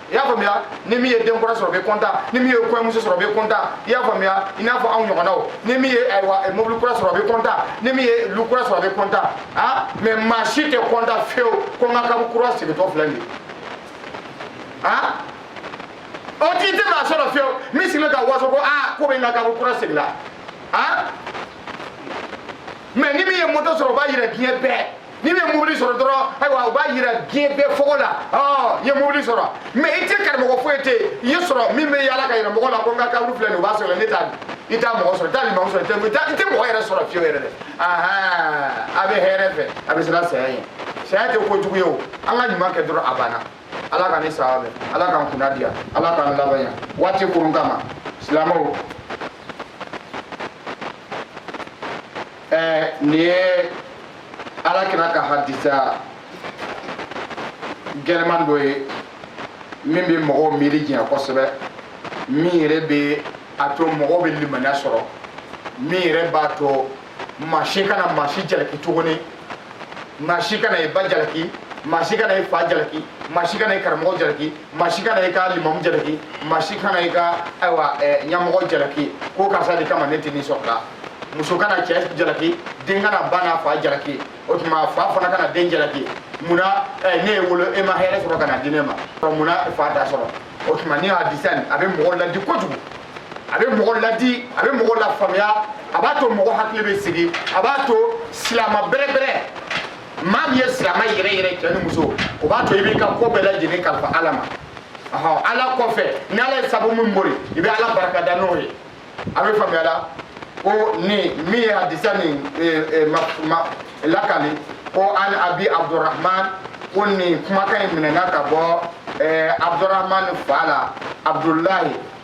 i y'a faamuya ni min ye den kura sɔrɔ bɛ kɔntan ni min ye kɔɲɔmuso sɔrɔ bɛ kɔntan i y'a faamuya i n'a fɔ anw ɲɔgɔnnaw ni min ye ayiwa eh, mobili kura sɔrɔ bɛ kɔntan ni min ye lu kura sɔrɔ bɛ kɔntan a mɛ maa si tɛ kɔntan fiyewu ko n ka kaburu kura segintɔ filɛ nin ye a o t'i tɛ maa sɔrɔ fiyewu min sigilen ka waso ko aa ko bɛ n ka kaburu kura segila a mɛ ni min ye moto sɔrɔ o b'a yira diɲɛ bɛɛ n'i ye mobili sɔrɔ dɔrɔn ayiwa u b'a yira diɲɛ bɛɛ fɔ ko ale ye mobili sɔrɔ mɛ i tɛ karamɔgɔ foyi tɛ i ye sɔrɔ min bɛ yaala k'a yira mɔgɔ la ko n ka kaburu filɛ nin u b'a sɔrɔ ne t'a di i t'a mɔgɔ sɔrɔ i t'alimamu sɔrɔ i tɛ mɔgɔ yɛrɛ sɔrɔ fiyewu yɛrɛ dɛ a bɛ hɛrɛ fɛ a bɛ siran saya ye saya tɛ ko jugu ye o an ka ɲuman kɛ dɔrɔn a banna ala k'an ni sɛwa bɛn ala k'an kunna diya ala k'an laban ɲa waati kurun kama silamɛw ɛɛ nin ye ala kira ka hadisa gɛlɛman dɔ ye min bɛ mɔgɔw miiri jɛya kosɛbɛ min yɛrɛ bɛ a to mɔgɔw bɛ limaniya sɔrɔ min yɛrɛ b'a to maa si kana maa si jalaki tuguni maa si kana i ba jalaki maa si kana i fa jalaki maa si kana i karamɔgɔ jalaki maa si kana i ka limamu jalaki maa si kana i ka ayiwa ɲɛmɔgɔ jalaki ko karisa de kama ne tɛ nin sɔrɔla muso kana cɛ jalaki den kana ba n'a fa jalaki o tuma fa fana kana den jalaki munna ne y'i wolo e ma hɛrɛ sɔrɔ ka n'a di ne ma munna fa t'a sɔrɔ o tuma ni hadisa nin a bɛ mɔgɔ ladi kojugu a bɛ mɔgɔ ladi a bɛ mɔgɔ lafaamuya a b'a to mɔgɔ hakili bɛ sigi a b'a to silamɛ bɛrɛbɛrɛ maa min ye silamɛ yɛrɛ yɛrɛ cɛ ni muso o b'a to i b'i ka ko bɛɛ lajɛlen kalifa ala ma ɔhɔn ala kɔfɛ ni ala ye sabu min bori i bɛ ala barika da n'o ye a bɛ faamuya la ko nin min ye hadisa nin lakali ko an abi abdurahman ko nin kumakan in minɛna ka bɔ abdurahman fa la abdulahi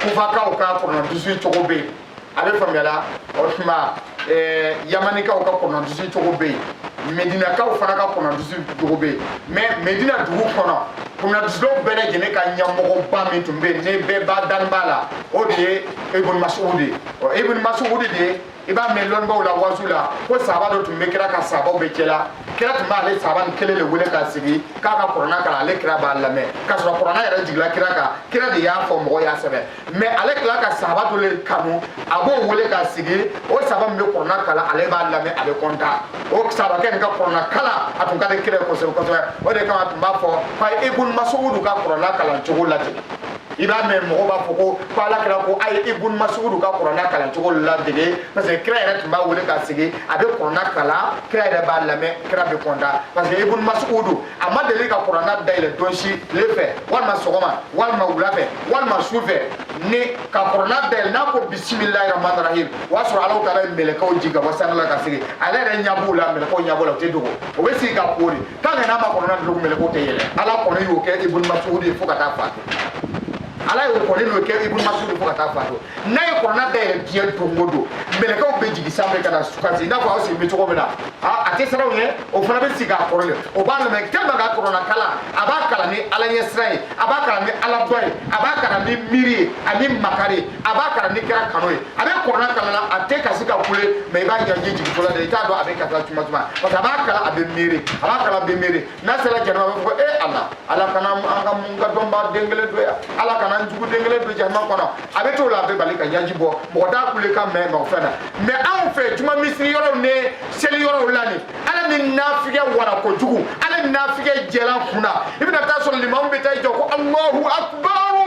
kufakaw ka kurana durusi cogo bɛ yen a bɛ faamuyala o tuma eh, yamanikaw ka kurana durusi cogo bɛ yen medinakaw fana ka kurana durusi cogo bɛ yen mɛ medina dugu kɔnɔ kurana durusilaw bɛɛ lajɛlen ka ɲɛmɔgɔba min tun bɛ yen ni bɛɛ ba dalen b'a la o de ye ibn mas'ud ye ɔ ibn mas'ud de ye i b'a mɛn lɔnnibaw la wasu la ko saba dɔ tun bɛ kira ka sabaw bɛɛ cɛ la kira tun b'ale saba nin kelen de wele k'a sigi k'a ka kurana kalan ale kira b'a lamɛn k'a sɔrɔ kurana yɛrɛ jigila kira kan kira de y'a fɔ mɔgɔw y'a sɛbɛn mɛ ale tila ka saba dɔ le kanu a b'o wele k'a sigi o saba min bɛ kurana kalan ale b'a lamɛn a bɛ kɔntan o sabakɛ nin ka kurana kalan a tun ka di kira ye kosɛbɛ kosɛbɛ o de kama a tun b'a fɔ k'a ye ibun masugudu ka kurana kalan cogo lajɛ i b'a mɛn mɔgɔw b'a fɔ ko ko ala kira ko a ye ibun masugudu ka kurana kalan cogo ladege parce que kira yɛrɛ tun b'a wele k'a sigi a bɛ kurana kalan kira yɛrɛ b'a lamɛn kira bɛ kɔntan parce que ibun masugudu a ma deli ka kurana dayɛlɛ don si tile fɛ walima sɔgɔma walima wula fɛ walima su fɛ ni ka kurana dayɛlɛ n'a ko bisimilahi rahmani rahim o y'a sɔrɔ alahu taala ye mɛlɛkɛw jigin ka bɔ sanfɛla ka sigi ale yɛrɛ ɲɛ b'u la mɛlɛkɛw ɲɛ b'u la u tɛ dogo o bɛ sigi ka koori tant que n'a ma kurana datugu mɛlɛkɛw tɛ yɛlɛn ala kɔni y'o kɛ ibun masugudu ye fo ka taa faatu ala y'o kɔni y'o kɛ ibun masugudu fo ka taa faatu n'a ye kurana dayɛlɛ diɲɛ don o don mɛlɛkɛw bɛ jigin sanfɛ ka na sigi i n'a fɔ aw sigilen bɛ cogo min na a tɛ siran u ɲɛ o fana bɛ sigi a kɔrɔ le o b'a lamɛn tellement a ka kurana kalan a b'a kalan ni ala ɲɛsiran ye a b'a kalan ni ala dɔn ye a b'a kalan ni miiri ye ani makari a b'a kalan ni kira kanu ye a bɛ kurana kalan na a tɛ kasi ka kule mais i b'a ɲɛji jigin fɔlɔ de i t'a dɔn a bɛ ka taa tuma tuma parce que a b'a kalan a bɛ miiri a b'a kalan a bɛ miiri n'a sera jahanama a bɛ fɔ e ala ala kana an ka mun ka dɔnba den kelen don yan ala kana n jugu den kelen don jahanama kɔnɔ a bɛ t'o la a bɛ bali ka ɲɛji bɔ mɔgɔ t'a kulekan mɛn mɔgɔ fɛn na mais anw fɛ juma misiri yɔrɔw ni seli yɔrɔw la nin ala ni nafigiya wara kojugu ala ni nafigiya jɛlan kun na i bɛna t'a sɔrɔ limamu bɛ taa i jɔ ko alahu akubaru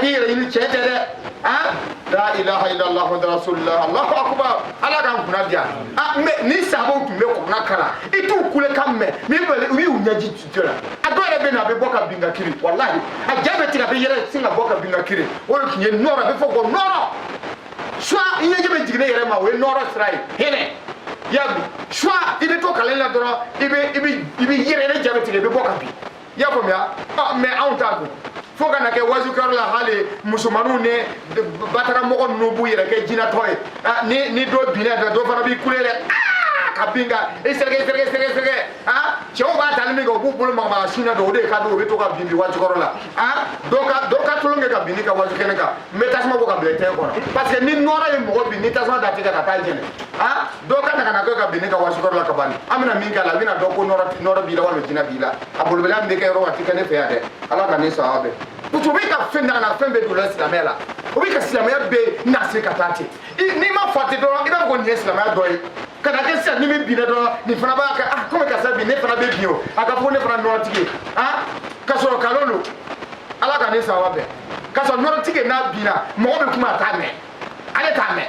k'i yɛrɛyɛrɛ tiɲɛ tɛ dɛ an la ilaha illallah muhammadu rasulullah allahu akbar ala k'an kunna diya mais ni sahabaw tun bɛ kurana kalan i t'u kulekan mɛn mais u y'u ɲɛji jɔ la a dɔw yɛrɛ bɛ na a bɛ bɔ ka bin ka kirin walahi a ja bɛ tigɛ a bɛ yɛrɛ sin ka bɔ ka bin ka kirin o de tun ye nɔrɔ a bɛ fɔ ko nɔrɔ soit i ɲɛji bɛ jigin ne yɛrɛ ma o ye nɔrɔ sira ye hinɛ y'a bi soit i bɛ to kalan la dɔrɔn i bɛ i bɛ i bɛ yɛrɛ yɛrɛ ja bɛ tigɛ i bɛ bɔ ka bin i y'a faamuya ah, mais anw ta dun fo ka na kɛ wazukɛyɔrɔ la hali musomaninw ni bataramɔgɔ ninnu b'u yɛrɛ kɛ jinatɔ ye ah, ni ni dɔ binna fɛ dɔ fana b'i kule dɛ ah, ka bin ka i sɛrɛkɛ sɛrɛkɛ sɛrɛkɛ sɛrɛkɛ cɛw b'a tali min kɛ u b'u bolo magamaga sin na dɔ o de ka di o bɛ to ka binbin wazukɛyɔrɔ la dɔ ka dɔ ka tulon kɛ ka bin ne ka wazu kɛnɛ kan n bɛ tasuma bɔ ka bila i tɛgɛ kɔnɔ parce que ni nɔɔrɔ ye mɔgɔ bin ni tasuma da tɛgɛ kan a tɛ jeni dɔ ka na ka na kɛ ka bin ne ka wazukɛyɔrɔ la ka ban an bɛna min k'a la a bɛna dɔn ko nɔrɔ b'i la walima jinɛ b'i la malobaliya min bɛ kɛ yɔrɔ a tɛ kɛ ne fɛ yan dɛ ala ka ne sɔn a bɛɛ parce que o bɛ ka fɛn daga na fɛn bɛɛ don la silamɛya la o bɛ ka silamɛya bɛɛ na se ka taa ten n'i ma fa ten dɔrɔn i b'a fɔ ko nin ye silamɛya dɔ ye ka na kɛ sisan ni min binna dɔrɔn nin fana b'a kɛ ah komi karisa bin ne fana bɛ bin o a ka fɔ ko ne fana nɔrɔtigi ye ah ka sɔrɔ kalon don ala ka ne sɔn a bɛɛ ka sɔrɔ nɔrɔtigi n'a binna mɔgɔ bɛ kuma a t'a mɛn ale t'a mɛn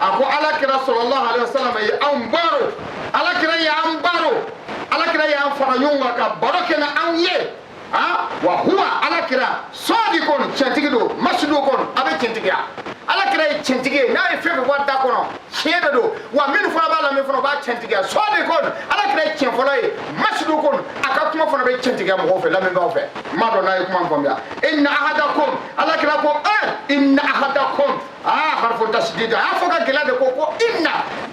a ko alakira sallallahu alayhi wa sallam ye anw baro alakira y'an baro alakira y'an fara ɲɔgɔn kan ka baro kɛ ni anw ye a wa huwa alakira sadiqun cɛntigi don masduqun a bɛ cɛntigiya alakira ye cɛntigi ye n'a ye fɛn fɛn fɔ a da kɔnɔ tiɲɛ de don wa minnu fana b'a lamɛn fana b'a cɛntigiya sadiqun alakira ye tiɲɛ fɔla ye masduqun a ka kuma fana bɛ cɛntigiya mɔgɔw fɛ lamɛnbaaw fɛ n m'a dɔn n'a ye kuma faamuya inna ahadakum alakira ko ɛ inna ahadakum aa harfu tasdid a y'a fɔ ka gɛlɛya de ko ko inna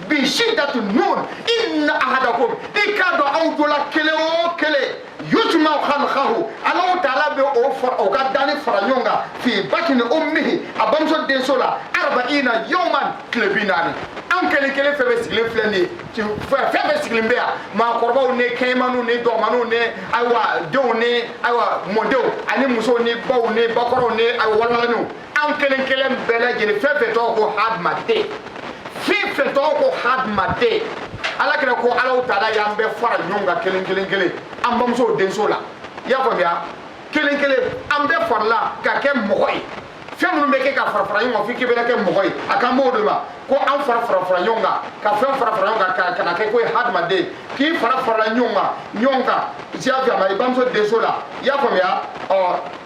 bi shiddatu nun inna ahadakum i k'a dɔn aw dɔ la kelen o kelen yujma'u khalquhu alahu taala bɛ o fara o ka dani fara ɲɔgɔn kan fi batini ummihi a bamuso denso la arba'ina yawman tile bi naani an kelen kelen fɛn bɛɛ sigilen filɛ nin ye fɛn bɛɛ sigilen bɛ yan maakɔrɔbaw ni kɛɲɛmaniw ni dɔgɔmaniw ni ayiwa denw ni ayiwa mɔdenw ani musow ni baw ni bakɔrɔw ni ayiwa walanganiw an kelen kelen bɛɛ lajɛlen fɛn fɛn tɔgɔ ko hadamaden fɛn fɛn tɔgɔ ko hadamaden ala kira ko alahu taala y'an bɛɛ fara ɲɔgɔn kan kelen kelen kelen an bamusow denso la i y'a faamuya kelen kelen an bɛɛ farala ka kɛ mɔgɔ ye fɛn minnu bɛ kɛ ka fara fara ɲɔgɔn kan f'i k'i bɛna kɛ mɔgɔ ye a kan b'o de ma ko an fara fara fara ɲɔgɔn kan ka fɛn fara fara ɲɔgɔn kan ka na kɛ k'o ye hadamaden k'i fara farala ɲɔgɔn kan ɲɔgɔn kan i y'a faamuya i bamuso denso la i y'a faamuya ɔ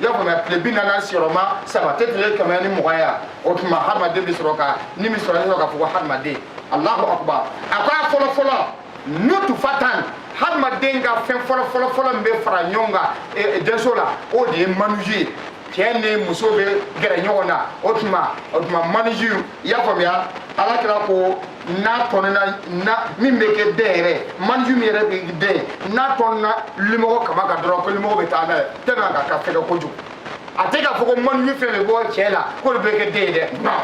i y'a faamuya tile bi naani sigiyɔrɔma saba tɛ tile kɛmɛ ni mugan ya o tuma hadamaden bɛ sɔrɔ ka ni bɛ sɔrɔ ka fɔ ko hadamaden alahu akubar a ko a fɔlɔ fɔlɔ nutufatan hadamaden ka fɛn fɔlɔ fɔlɔ fɔlɔ min bɛ fara ɲɔgɔn kan e, e, denso la o de ye manuju ye cɛ ni muso bɛ gɛrɛ ɲɔgɔn na o tuma o tuma manuju i y'a faamuya ala kira ko n'a tɔnina min bɛ kɛ den yɛrɛ manju min yɛrɛ bɛ den n'a tɔnina limɔgɔ kaman kan dɔrɔn ko limɔgɔ bɛ taa n'a ye tellement a ka fɛgɛ kojugu a tɛ k'a fɔ ko manju fɛn bɛ bɔ cɛ la k'o de bɛ kɛ den ye dɛ non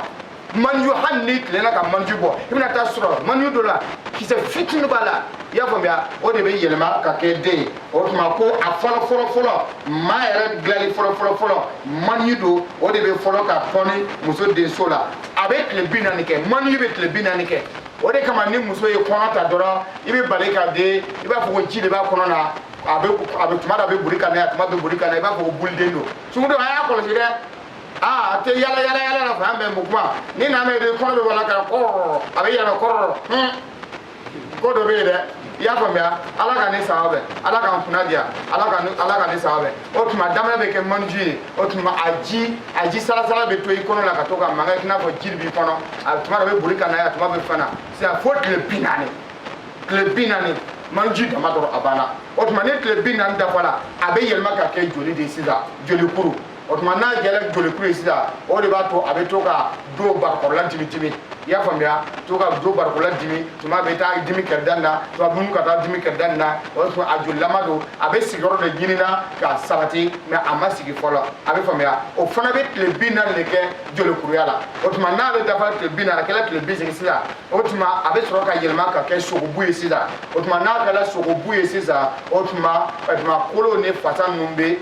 manju hali n'i tilenna ka manju bɔ i bɛna taa sɔrɔ manju dɔ la kisɛ fitini b'a la i y'a faamuya o de bɛ yɛlɛma ka kɛ den ye o tuma ko a fɔlɔ fɔlɔ fɔlɔ maa yɛrɛ dilanli fɔlɔ fɔlɔ fɔlɔ mani don o de bɛ fɔlɔ ka tɔni muso denso la a bɛ tile bi naani kɛ mani bɛ tile bi naani kɛ o de kama ni muso ye kɔnɔ ta dɔrɔn i bɛ bali ka den i b'a fɔ ko ji de b'a kɔnɔ na a bɛ a bɛ tuma dɔ a bɛ boli ka na yan tuma bɛ boli ka na i b'a fɔ ko buliden don sungurundenw a y'a kɔlɔsi dɛ aa a tɛ yala yala yala la fan bɛɛ mukuma ni nana ye de kɔnɔ bɛ wala ka kɔrɔ a bɛ yɛlɛ kɔrɔ hun. ko dɔ bɛ yen dɛ i y'a faamuya ala ka ne saba bɛ ala k'an kunna diya ala ka ala ka ne saba bɛ o tuma daminɛ bɛ kɛ manju ye o tuma a ji a ji salasala bɛ to i kɔnɔ la ka to ka mankan i n'a fɔ ji de b'i kɔnɔ a tuma dɔ bɛ boli ka na yan tuma bɛ fana sisan fo tile bi naani tile bi naani manju dama dɔrɔn a banna o tuma ni tile bi naani dafara a bɛ yɛlɛma ka kɛ joli de ye sisan joli kuru o tuma n'a jɛra jolikuru ye sisan o de b'a to a bɛ to ka do barikɔrɔla dimi dimi i y'a faamuya to ka do barikɔrɔla dimi tuma bɛ taa dimi kɛrɛda nin na tuma bɛ ka taa dimi kɛrɛda nin na o tuma a jolilama don a bɛ sigiyɔrɔ de ɲini na ka sabati mɛ a ma sigi fɔlɔ a bɛ faamuya o fana bɛ tile bi naani de kɛ jolikuruya la o tuma n'ale dafara tile bi naani a kɛra tile bi seegin sisan o tuma a bɛ sɔrɔ ka yɛlɛma ka kɛ sogobu ye sisan o tuma n'a kɛra sogobu ye sisan o tuma tuma kolo ni fasa ninnu bɛ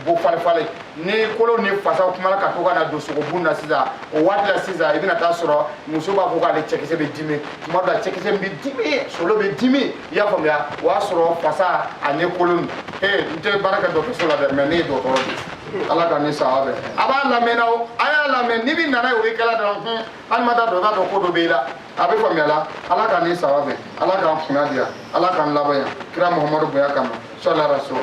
bɔ falifali ni kolo ni fasaw kumana ka to ka na don sogobu na sisan o waati la sisan i bɛna taa sɔrɔ muso b'a fɔ k'ale cɛkisɛ bɛ dimi tuma dɔ la cɛkisɛ bɛ dimi solo bɛ dimi i y'a faamuya o y'a sɔrɔ fasa ani kolo nin ee n tɛ baara kɛ dɔgɔtɔrɔso la dɛ mɛ ne ye dɔgɔtɔrɔ de ye ala k'an ni sawa bɛn a b'a lamɛnna o a y'a lamɛn ni min nana ye o ye kɛla dɔrɔn hun hali ma taa dɔn i b'a dɔn ko dɔ b'i la a bɛ faamuya la ala k'an ni sawa bɛn ala k'an kunna diya ala k'an laban ɲa kira muhamadu bonya kama sɔlaraso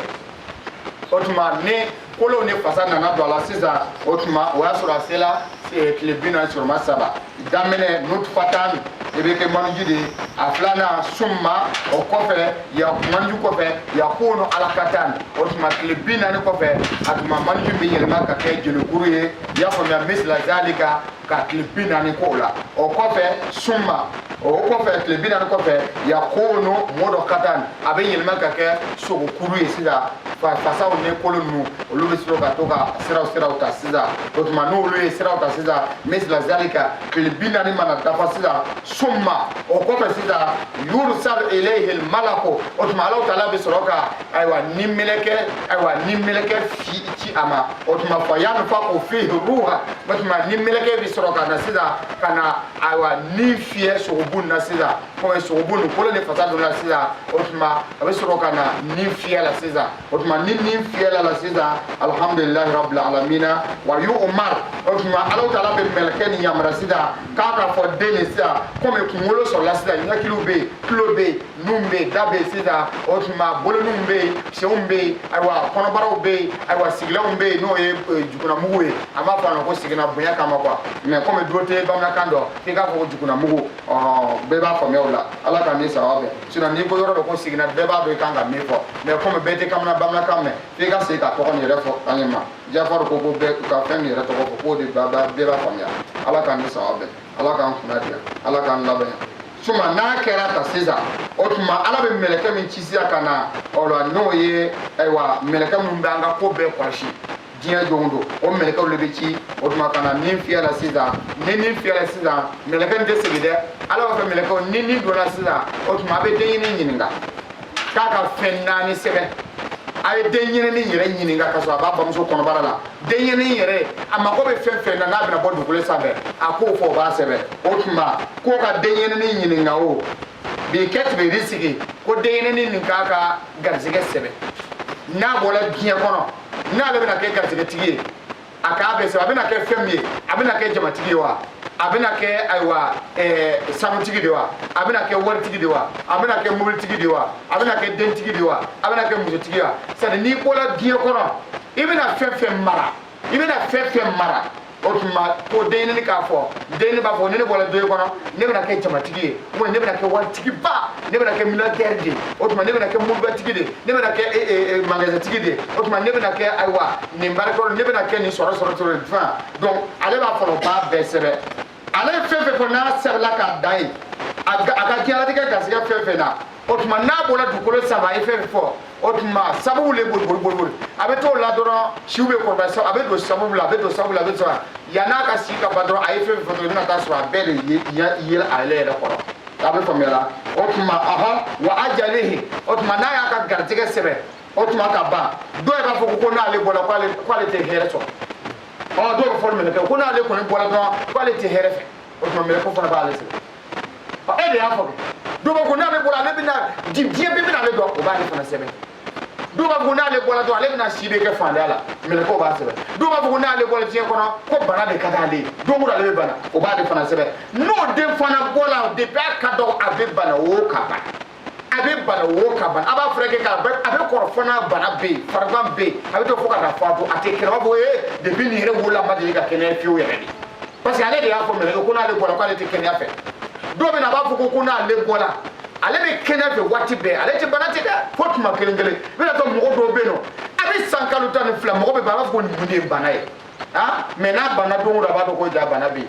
o tuma ni kolo ni fasa nana don a la sisan o tuma o y'a sɔrɔ a sela eh, tile bi naani sɔrɔma saba daminɛ nutfatan i bɛ kɛ maniji de ye a filanan summa o kɔfɛ ya maniju kɔfɛ yakunu alakatan o tuma tile bi naani kɔfɛ a tuma maniju bɛ yɛlɛma ka kɛ jelikuru ye i y'a faamuya misila zalika ka tile bi naani k'o la o kɔfɛ summa o kɔfɛ tile bi naani kɔfɛ yakunu mudukatan a bɛ yɛlɛma ka kɛ sogokuru ye sisan fasaw ni kolo ninnu olu bɛ sɔrɔ ka to ka siraw siraw ta sisan o tuma n'olu ye siraw ta sisan misila zalika tile bi naani mana dafa sisan summa o kɔfɛ sisan yurusalu ilayhil malaku o tuma alahu taala bɛ sɔrɔ ka ayiwa ni mɛlɛkɛ ayiwa ni mɛlɛkɛ fi ci a ma o tuma fa yanfuku fihi ruha o tuma ni mɛlɛkɛ bɛ sɔrɔ ka na sisan ka na ayiwa ni fiyɛ sogobu na sisan kɔmi sogobu nin kolo ni fasa donna sisan o tuma a bɛ sɔrɔ ka na ni fiyɛ la sisan o tuma ni ni fiyɛla a la sisan alihamudulilayi rabbil alamina wa yu umar o tuma ala taala bɛ mɛlɛkɛ nin yamaruya sisan k'a ka fɔ den nin sisan kɔmi kunkolo sɔrɔla sisan ɲɛkiliw bɛ yen tulo bɛ yen nun bɛ yen da bɛ yen sisan o tuma boloninw bɛ yen senw bɛ yen ayiwa kɔnɔbaraw bɛ yen ayiwa sigilanw bɛ yen n'o ye eh, jukunamugu ye an b'a fɔ a ma ko sigina bonya kama kuwa mɛ kɔmi dɔ tɛ bamanankan dɔn k'i k'a fɔ ko jukunamugu bɛɛ b'a faamuya o la ala k'an ni saba bɛn sinɔn n'i ko yɔrɔ dɔ ko sigina bɛɛ b'a dɔn i kan ka min fɔ mɛ kɔmi bɛɛ tɛ kamana bamanankan mɛn f'i ka segin ka tɔgɔ nin yɛrɛ fɔ an ye ma jafari ko ko bɛɛ ka fɛn nin yɛrɛ tɔgɔ fɔ k'o de bɛɛ b'a faamuya ala k'an ni saba bɛn ala k'an kunna diya ala k'an laban ɲa summa n'a kɛra tan sisan o tuma ala bɛ mɛlɛkɛ min ci sisan ka na o la n'o ye ayiwa mɛlɛkɛ min bɛ an ka ko bɛɛ kɔlɔsi diɲɛ don don o mɛlɛkɛw de bɛ ci o tuma ka na nin fiyɛ la sisan ni nin fiyɛ la sisan mɛlɛkɛ nin tɛ segin dɛ ala b'a fɛ mɛlɛkɛ ni nin donna sisan o tuma a bɛ denɲɛnin ɲininka k'a ka fɛn naani sɛbɛn a ye denɲɛnin yɛrɛ ɲininka ka sɔrɔ a b'a bamuso kɔnɔbara la denyɛrɛnin yɛrɛ a mago bɛ fɛn fɛn na n'a bɛna bɔ dugukolo sanfɛ a k'o fɔ o b'a sɛbɛn o tuma k'o ka denyɛrɛnin ɲininka o bi katibi risiki ko denyɛrɛnin nin k'a ka garisɛgɛ sɛbɛn n'a bɔra diɲɛ kɔnɔ n'ale bɛna kɛ garisɛgɛtigi ye a k'a bɛɛ sɛbɛn a bɛna kɛ fɛn min ye a bɛna kɛ jamatigi ye wa a bɛna kɛ ayiwa eh, sanutigi de wa a bɛna kɛ waritigi de wa a bɛna kɛ mobilitigi de wa a bɛna kɛ dentigi de wa a bɛna kɛ musotigi wa c'est n'i bɔra diɲɛ kɔnɔ i bɛna fɛn fɛn mara i bɛna fɛn fɛn mara o tuma ko denyɛrɛnin k'a fɔ denyɛrɛnin b'a fɔ ni ne bɔra diɲɛ kɔnɔ ne bɛna kɛ jamatigi ye ubiyɛn ne bɛna kɛ waritigiba ne bɛna kɛ militɛri de ye o tuma ne bɛna kɛ mobilibatigi de ye ne bɛna kɛ eh, eh, eh, magasintigi de ye o tuma ne bɛna kɛ ayiwa nin baarakɛyɔrɔ ne bɛna kɛ nin sɔrɔ sɔrɔ sɔrɔ fan donc ale b'a fɔ o b'a bɛɛ sɛbɛn ale ye fɛn fɛn fɔ n'a sɛbɛnna k'a da yen a ka diɲɛlatigɛ garisɛgɛ fɛn fɛn na o tuma n'a bɔra dugukolo sanfɛ a ye fɛn fɛn fɔ o tuma sababu le boliboliboli a bɛ t'o la dɔrɔn siw bɛ kɔrɔbaya a bɛ don sababu la a bɛ don sababu la a bɛ sɔrɔ yanni a ka si ka ban dɔrɔn a ye fɛn fɛn fɔ i bɛna t'a sɔrɔ a bɛɛ de ye yɛlɛ ale yɛrɛ kɔrɔ a bɛ faamuya la o tuma aha wa ajalihi o tuma n'a y'a ka garijɛgɛ sɛbɛn o tuma ka ban dɔw yɛrɛ b'a fɔ ko n'ale bɔra k'ale tɛ hɛrɛ sɔrɔ ɔ dɔw b'a fɔ mɛlɛkɛ ko n'ale kɔni bɔra dɔrɔn k'ale tɛ hɛrɛ fɛ o tuma mɛlɛkɛ fana b'ale sɛbɛn ɔ e de y'a fɔ dɔw b'a fɔ n'ale bɔra ale bɛna di diɲɛ bɛɛ bɛna ale dɔn o b'ale fana sɛbɛn dɔw b'a fɔ n'ale bɔra dɔrɔn ale bɛna si bɛɛ kɛ faantanya la mɛlɛkɛw b'a sɛbɛn dɔw b'a fɔ n'ale bɔra diɲɛ kɔnɔ ko bana de ka d'ale ye don o don ale bɛ bana o b'ale fana sɛbɛn n'o den fana bɔra depuis a ka dɔgɔ a bɛ bana o ka ban a bɛ bana wo ka ban a b'a furakɛ k'a bɛ a bɛ kɔrɔ fɔ n'a bana bɛ yen farigan bɛ yen a bɛ to fo ka taa fatu a tɛ kɛnɛya a b'a fɔ ee depi nin yɛrɛ wolola a ma deli ka kɛnɛya fiyewu yɛrɛ de parce que ale de y'a fɔ mɛlɛkɛ ko n'ale bɔra k'ale tɛ kɛnɛya fɛ dɔw bɛ na a b'a fɔ ko ko n'ale bɔra ale bɛ kɛnɛya fɛ waati bɛɛ ale tɛ bana tɛ dɛ fo tuma kelen kelen i bɛna sɔrɔ mɔgɔ dɔw bɛ yen nɔ a bɛ san kalo tan ni fila mumɛ ban a b'a fɔ ko mun de ye bana ye ah mɛ n'a bana don o don a b'a dɔn ko ja bana bɛ yen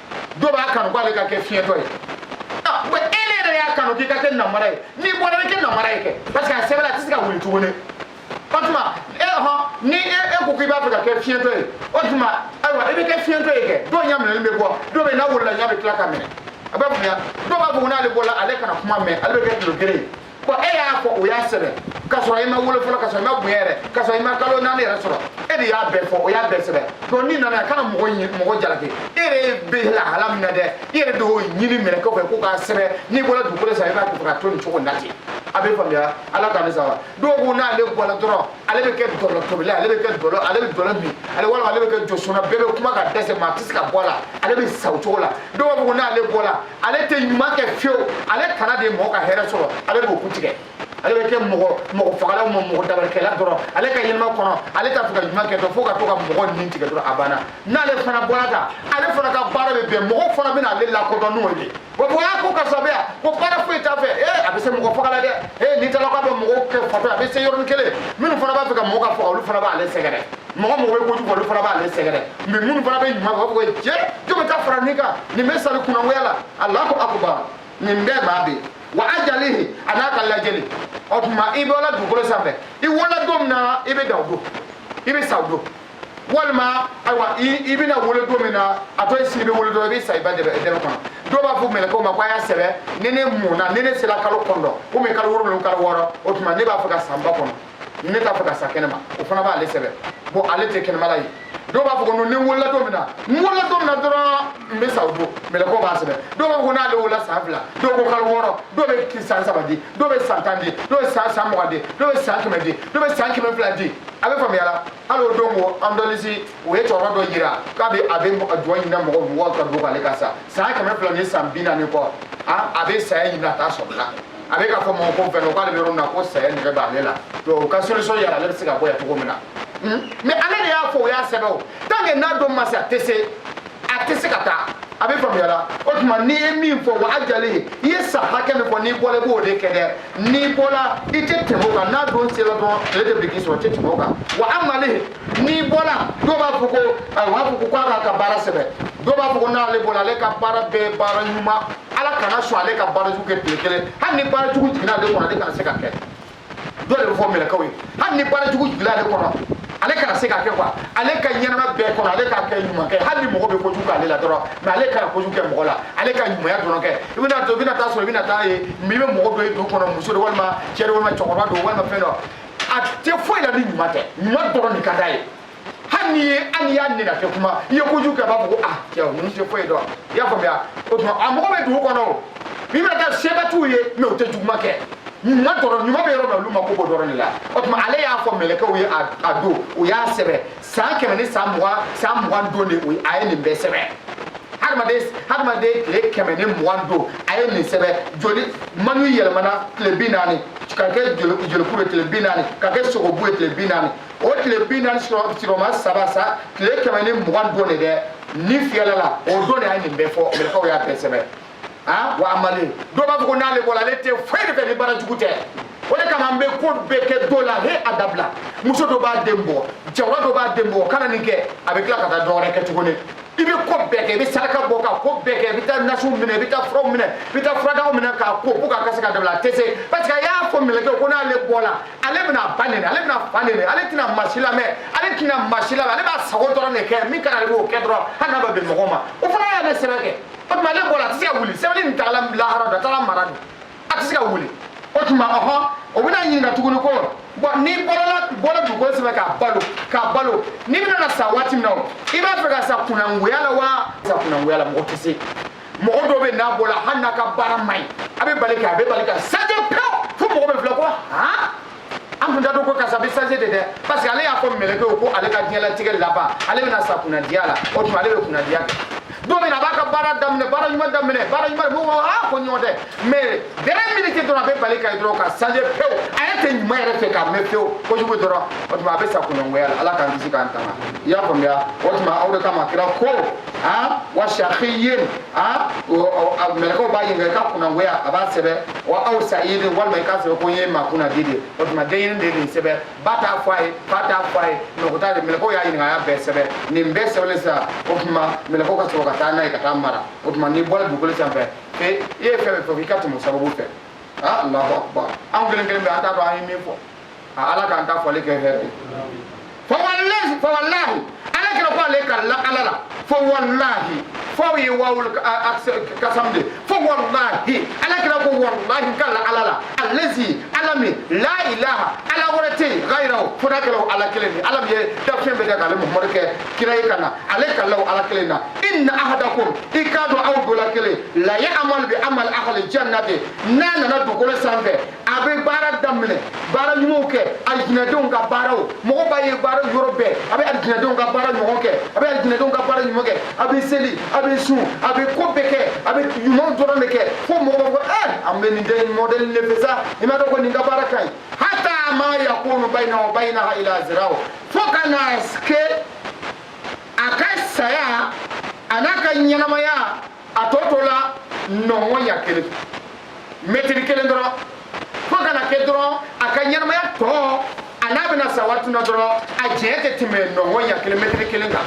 dɔ b'a kanu k'ale ka kɛ fiɲɛtɔ ye ah, e de yɛrɛ y'a kanu k'i ka kɛ namara ye n'i bɔra i kɛ namara ye kɛ parce que a sɛbɛnna a tɛ se ka wuli tuguni o tuma e hɔn ni e e ko k'i b'a fɛ ka kɛ fiɲɛtɔ ye o tuma ayiwa i bɛ kɛ fiɲɛtɔ ye kɛ dɔw ɲɛ minɛlen bɛ bɔ dɔw bɛ n'a wolola ɲɛ bɛ tila ka minɛ a bɛ bonya dɔw b'a fɔ ko n'ale bɔra ale kana kuma mɛn ale bɛ kɛ tulogeren ye bɔn e y'a fɔ o y'a sɛbɛn k'a sɔrɔ i ma wolo fɔlɔ k'a sɔrɔ i ma bonya yɛrɛ k'a sɔrɔ i ma kalo naani yɛrɛ sɔrɔ e de y'a bɛɛ fɔ o y'a bɛɛ sɛbɛn donc n'i nana a kana mɔgɔ ɲi mɔgɔ jalaki e yɛrɛ bɛ lahala min na dɛ i yɛrɛ de y'o ɲini mɛlɛkɛw fɛ ko k'a sɛbɛn n'i bɔra dugukolo san i b'a kɛ ka to nin cogo in na ten a bɛ faamuya ala k'an saba dɔw ko n'ale bɔra dɔrɔn ale bɛ kɛ dɔlɔtobila ale bɛ kɛ dɔlɔ ale bɛ dɔlɔ min ale walima ale bɛ kɛ josɔnna bɛɛ bɛ kuma ka dɛsɛ maa a tɛ se ka bɔ a la ale bɛ sa o cogo la dɔw b'a fɔ ko n'ale bɔra ale tɛ ɲuman kɛ fiyewu ale tana de ye mɔgɔ ka hɛrɛ sɔrɔ ale b'o kun tigɛ ale bɛ kɛ mɔgɔ mɔgɔ fagala mɔgɔ dabarikɛla dɔrɔn ale ka ɲɛnama kɔnɔ ale t'a fɛ ka ɲuman kɛ dɔrɔn fo ka to ka mɔgɔ ni tigɛ dɔrɔn a banna n'ale fana bɔra ta ale fana ka baara bɛ bɛn mɔgɔ fana bɛna ale lakodɔn n'o ye wa ko aa ko karisa bɛ yan ko baara foyi t'a fɛ ee a bɛ se mɔgɔ faga la dɛ ee ni talaka bɛ mɔgɔw kɛ fatɔ a bɛ se yɔrɔnin kelen minnu fana b'a fɛ ka mɔgɔ ka faga olu fana b'ale sɛgɛrɛ mɔgɔ mɔgɔ bɛ kojugu olu fana b'ale sɛgɛrɛ mais minnu fana bɛ ɲuman fɔ ko jɛ jɔn ta fara nin kan nin bɛ sari kunangoya la alahu akubar nin bɛɛ b'a bɛ wa ajalihi a n'a ka lajɛli o tuma i bɛ wolo dugukolo sanfɛ i wolo don min na i bɛ da o don i bɛ sa o don walima ayiwa i bɛna wolo don min na a to i sigi bɛ wolo don i bɛ sa i ba dɛbɛ dɛbɛ kɔnɔ dɔw b'a fɔ mɛlɛkɛw ma ko a y'a sɛbɛn ni ne mɔna ni ne sera kalo kɔnɔntɔn komi kalo wolonwula kalo wɔɔrɔ o tuma ne b'a fɛ ka sa n ba kɔnɔ ne t'a fɛ ka sa kɛnɛma o fana b'ale sɛbɛn bon ale tɛ kɛnɛmala ye dɔw b'a fɔ ko ne wolola don min na n wolola don min na dɔrɔn n bɛ sa o don mɛlɛkɛw b'a sɛbɛn dɔw b'a fɔ ko n'ale wolola san fila dɔw ko kalo wɔɔrɔ dɔw bɛ san saba di dɔw bɛ san tan di dɔw bɛ san san mugan di dɔw bɛ san kɛmɛ di dɔw bɛ san kɛmɛ fila di a bɛ faamuya la hali o don ko andɔlisi o ye cɛkɔrɔba dɔ yira k'a bɛ a bɛ duwa ɲinina mɔgɔ mɔgɔw ka don k'ale ka sa san kɛmɛ fila ni san bi naani kɔ a bɛ saya ɲinina a t'a sɔrɔ la a bɛ k'a fɔ mɔgɔ ko fɛn k'ale bɛ yɔrɔ min na ko saya nɛgɛ b'ale la o ka solution yira ale bɛ se ka bɔ yan cogo min na hmm? mais ale de y'a fɔ o y'a sɛbɛn o tant que n'a don ma se a tɛ se a tɛ se ka taa a bɛ faamuya la o tuma n'i ye min fɔ o a jalen ye i ye san hakɛ min fɔ n'i bɔra i b'o de kɛ dɛ n'i bɔra i tɛ tɛmɛ o kan n'a don sera dɔrɔn ale tɛ biriki sɔrɔ i tɛ tɛmɛ o kan wa amali n'i bɔra dɔw b'a fɔ ko ayi u b'a fɔ ko k'a k'a ka baara sɛbɛn dɔw b'a fɔ ko n'ale bɔra ale ka baara bɛɛ baara ɲuman ala kana sɔn ale ka baarajugu kɛ tile kelen hali ni baarajugu jiginna ale kɔnɔ ale kana se k'a kɛ dɔ de bɛ fɔ mɛlɛkɛw ye hali ni baarajugu jiginna ale kɔnɔ ale kana se k'a kɛ quoi ale ka ɲɛnama bɛɛ kɔnɔ ale ka kɛ ɲuman kɛ hali ni mɔgɔ bɛ kojugu k'ale la dɔrɔn mais ale kana kojugu kɛ mɔgɔ la ale ka ɲumanya dɔrɔn kɛ i bɛna to i bɛna taa sɔrɔ i bɛna taa ye min bɛ mɔgɔ dɔ ye du kɔnɔ muso don walima cɛ don walima cɛkɔrɔba don walima fɛn don a tɛ foyi la ni ɲuman tɛ ɲuman dɔrɔn de ka d'a ye hali ni hali i y'a neni kɛ kuma i ye kojugu kɛ a b'a fɔ ko ah cɛ ninnu tɛ foyi dɔn i y'a faamuya o tuma a mɔgɔ bɛ dugu kɔnɔ o min bɛ kɛ sɛbɛtiw ye mais u tɛ juguman kɛ ɲuman dɔrɔn ɲuman bɛ yɔrɔ min na olu mako b'o dɔrɔn de la o tuma ale y'a fɔ mɛlɛkɛw ye a don u y'a sɛbɛn san kɛmɛ ni san mugan san mugan don de o ye a ye nin bɛɛ sɛbɛn hadamaden hadamaden tile kɛmɛ ni mugan don a ye nin sɛbɛn joli manu yɛlɛmana tile bi naani ka kɛ jolikuru ye tile bi naani ka kɛ sogobu ye tile bi naani o tile bi naani siroma saba sa tile kɛmɛ ni mugan don de dɛ ni fiyɛla la o don de a ye nin bɛɛ fɔ mɛlɛkɛw y'a bɛɛ sɛbɛn han wa amale dɔw b'a fɔ ko n'ale bɔra ale tɛ foyi de fɛ ni baara jugu tɛ o de kama an bɛ ko bɛɛ kɛ dɔ la he a dabila muso dɔ b'a den bɔ cɛkɔrɔba dɔ b'a den bɔ kana nin kɛ a bɛ tila ka taa dɔ wɛrɛ kɛ tuguni i bɛ ko bɛɛ kɛ i bɛ saraka bɔ ka ko bɛɛ kɛ i bɛ taa nasiw minɛ i bɛ taa furaw minɛ i bɛ taa furadaw minɛ k'a ko pour que a ka se ka dabila a tɛ se parce que a y'a fɔ mɛlɛkɛw ko n'ale bɔla ale bɛna ba nɛni ale bɛna fa nɛni ale tɛna maa si lamɛn ale tɛna maa si lamɛn ale b'a sago dɔrɔn de kɛ min ka di ale b'o kɛ dɔrɔn hali n'a bɛ bɛn mɔgɔ ma o fana y'a ne sɛbɛn kɛ o tuma ale bɔra a tɛ se ka wuli sɛbɛnni nin taara lahara dɔ a taara mara de a tɛ se ka wuli o tuma ɔhɔn o bɛna ɲininka tuguni ko bɔn n'i bɔla dugukolo sanfɛ ka balo ka balo n'i bɛna na sa waati min na o i b'a fɛ ka sa kunangoya la wa sa kunangoya la mɔgɔ tɛ se mɔgɔ dɔ bɛ n'a bɔla hali n'a ka baara man ɲi a bɛ bali kɛ a bɛ bali ka changer pewu fo mɔgɔ bɛ filɛ ko han an tun t'a dɔn ko karisa bɛ changer de dɛ parce que ale y'a fɔ mɛlɛkɛw ko ale ka diɲɛlatigɛ laban ale bɛna sa kunnadiya la o tuma ale bɛ kunnadiya kɛ don min na a b'a ka baara daminɛ baara ɲuman daminɛ baara ɲuman mɔgɔ b'a aa ko ɲɔgɔn tɛ mais dernière minute dɔrɔn a bɛ bali ka ye dɔrɔn ka changer pewu a yɛrɛ tɛ ɲuman yɛrɛ fɛ k'a mɛn pewu kojugu dɔrɔn o tuma a bɛ sa kunnangoya la ala k'an kisi k'an tanga i y'a faamuya o tuma o de kama kira ko a wa shakiyin a mɛlɛkɛw b'a ɲininka i ka kunangoya a b'a sɛbɛn wa aw sayidin walima i k'a sɛbɛn ko n ye maa kunnadi de o tuma denɲini de ye nin sɛbɛn ba t'a fɔ a ye fa t'a fɔ a ye mɔgɔ t'a ye mɛlɛkɛw y'a ɲininka a y'a bɛɛ sɛbɛn nin bɛɛ sɛbɛnnen sisan o tuma mɛlɛkɛw ka sɔrɔ ka taa n'a ye ka taa mara o tuma n'i bɔra dugukolo sanfɛ e i ye fɛn fɛn fɔ k'i ka tɛmɛ o sababu fɛ a alahu akubar anw kelen kelen bɛɛ an t'a dɔn an ye min fɔ a ala k'an ka fɔli kɛ hɛrɛ ye fawalahi fawalahi ala kira ko ale ka la ala la fawalahi fo ye wawul kasam de fawalahi ala kira ko walahi ka la ala la allazi ala min la ilaha ala wɛrɛ tɛ yen gayiruhu fo n'a kɛra ala kelen de ala min ye dafɛn bɛɛ kɛ k'ale muhamadu kɛ kira ye ka na ale ka la o ala kelen na inna ahadakum i k'a dɔn aw dɔ la kelen la yaamalu bi amali ahali jannati n'a nana dugukolo sanfɛ a bɛ baara daminɛ baara ɲumanw kɛ alijinɛdenw ka baaraw mɔgɔ b'a ye baara yɔrɔ bɛɛ a bɛ alijinɛdenw ka baara ɲɔgɔn kɛ a bɛ alijinɛdenw ka baara ɲuman kɛ a bɛ seli a bɛ sun a bɛ ko bɛɛ kɛ a bɛ ɲumanw dɔrɔn de kɛ fo mɔgɔ b'a fɔ ɛ eh, an bɛ nin den mɔdɛli de fɛ sa i m'a dɔn ko nin ka baara ka ɲi hata ma yakunu bayinahu wa bayinaha ila ziraw fo ka na kɛ a ka saya a n'a ka ɲɛnamaya a tɔ tola nɔngɔnɲa kelen mɛtiri kelen dɔrɔn fo ka na kɛ dɔrɔn a ka ɲɛnamaya tɔ a n'a bɛna sa waati min na dɔrɔn a cɛ tɛ tɛmɛ nɔngɔnɲa kelen mɛtiri kelen kan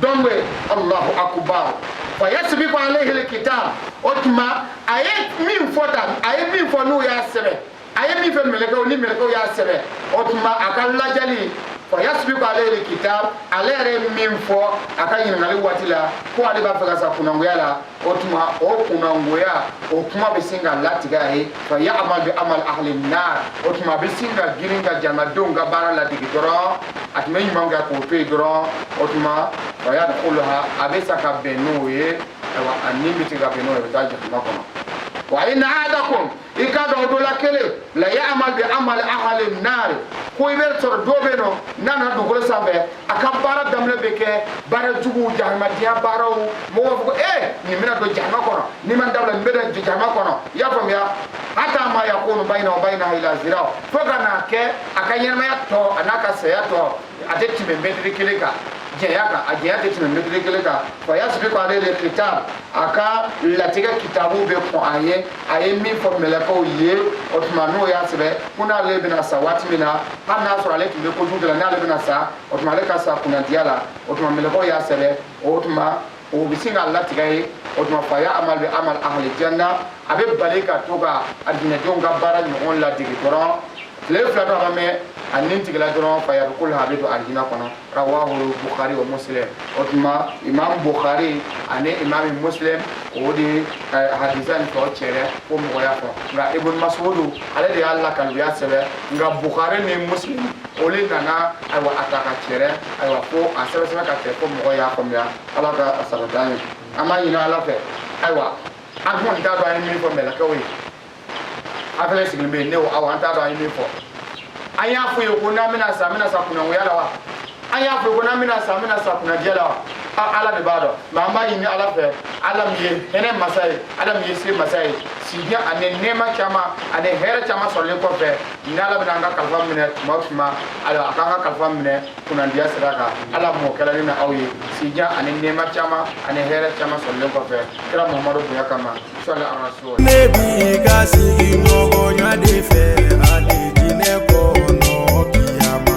donc allahu akubar fa yasbiku alayhi alkitab o tuma a ye min fɔ tan a ye min fɔ n'u y'a sɛbɛn a ye min fɔ mɛlɛkɛw ni mɛlɛkɛw y'a sɛbɛn o tuma a ka lajali fa yasbiku alayhi al-kitab ale yɛrɛ ye min fɔ a ka ɲininkali waati la ko ale b'a fɛ ka sa kunangoya la o tuma o kunangoya o kuma bɛ sin ka latigɛ a ye fa ya'mal bi amal ahli nar o tuma a bɛ sin ka girin ka jahannamadenw ka baara ladege dɔrɔn a tun bɛ ɲuman kɛ k'o to yen dɔrɔn o tuma fa yadkhuluha a bɛ sa ka bɛn n'o ye ayiwa a ni bɛ se ka bɛn n'o ye a bɛ taa jahannama kɔnɔ wa inna ahadakum i k'a dɔn aw dɔ la kelen la ya'mal bi amali ahli naari ko i bɛ sɔrɔ dɔ bɛ yen n'o nana dugukolo sanfɛ a ka baara daminɛ bɛ kɛ baara juguw jahannamadenya baaraw mɔgɔw b'a fɔ ko ee nin bɛna don jahannama kɔnɔ n'i m'a dabila nin bɛ don jahannama kɔnɔ i y'a faamuya hatta ma yakunu baynahu wa baynaha illa zira fo ka n'a kɛ a ka ɲɛnamaya tɔ a n'a ka saya tɔ a tɛ tɛmɛ mɛtiri kelen kan janya kan a janya tɛ tɛmɛ mɛtiri kelen kan fa yasbiqu alayhi al-kitab a ka latigɛ kitabu bɛ kɔn a ɲɛ a ye min fɔ mɛlɛkɛw ye o tuma n'u y'a sɛbɛn ko n'ale bɛna sa waati min na hali n'a sɔrɔ ale tun bɛ kojugu kɛ la n'ale bɛna sa o tuma ale ka sa kunnadiya la o tuma mɛlɛkɛw y'a sɛbɛn o tuma o bɛ sin ka latigɛ a ye o tuma fa ya'mal bi amal ahli janna a bɛ bali ka to ka alijinɛdenw ka baara ɲɔgɔn ladege dɔrɔn tile fila dɔ ma mɛn a ni tigɛla dɔrɔn fa yadkhuluha a bɛ don alijinɛ kɔnɔ rawahu bukhari wa muslim o tuma imam bukhari ani imam muslim o de ye hadisa nin tɔ cɛrɛ ko mɔgɔ y'a fɔ nka ibn masudu ale de y'a lakali u y'a sɛbɛn nka bukhari ni muslim o de nana ayiwa a ta ka cɛrɛ ayiwa k'a sɛbɛsɛbɛn ka kɛ ko mɔgɔ y'a faamuya ala k'a sabati an ye an b'a ɲini ala fɛ ayiwa an kɔni t'a dɔn an ye min fɔ mɛlɛkɛw ye an fɛnɛ sigilen bɛ yen ne ko awɔ an t'a dɔn an ye min fɔ an y'a fɔ ye ko n'an bɛna sa an bɛna sa kunangoya la wa an y'a fɔ ko n'an bɛna sa an bɛna sa kunnadiya la wa ala de b'a dɔn nka an b'a ɲini ala fɛ ala min ye hinɛ masa ye ala min ye se masa ye sijan ani nɛɛma caman ani hɛrɛ caman sɔrɔlen kɔfɛ ni ala bɛna an ka kalifa minɛ tuma o tuma ala k'an ka kalifa minɛ kunnandiya sira kan ala m'o kɛla ne n'aw ye sijan ani nɛɛma caman ani hɛrɛ caman sɔrɔlen kɔfɛ kira mamadu bonya kama sɔli ya rasul ne b'i ka sigiɲɔgɔnya de fɛ alijinɛ kɔnɔ kiyama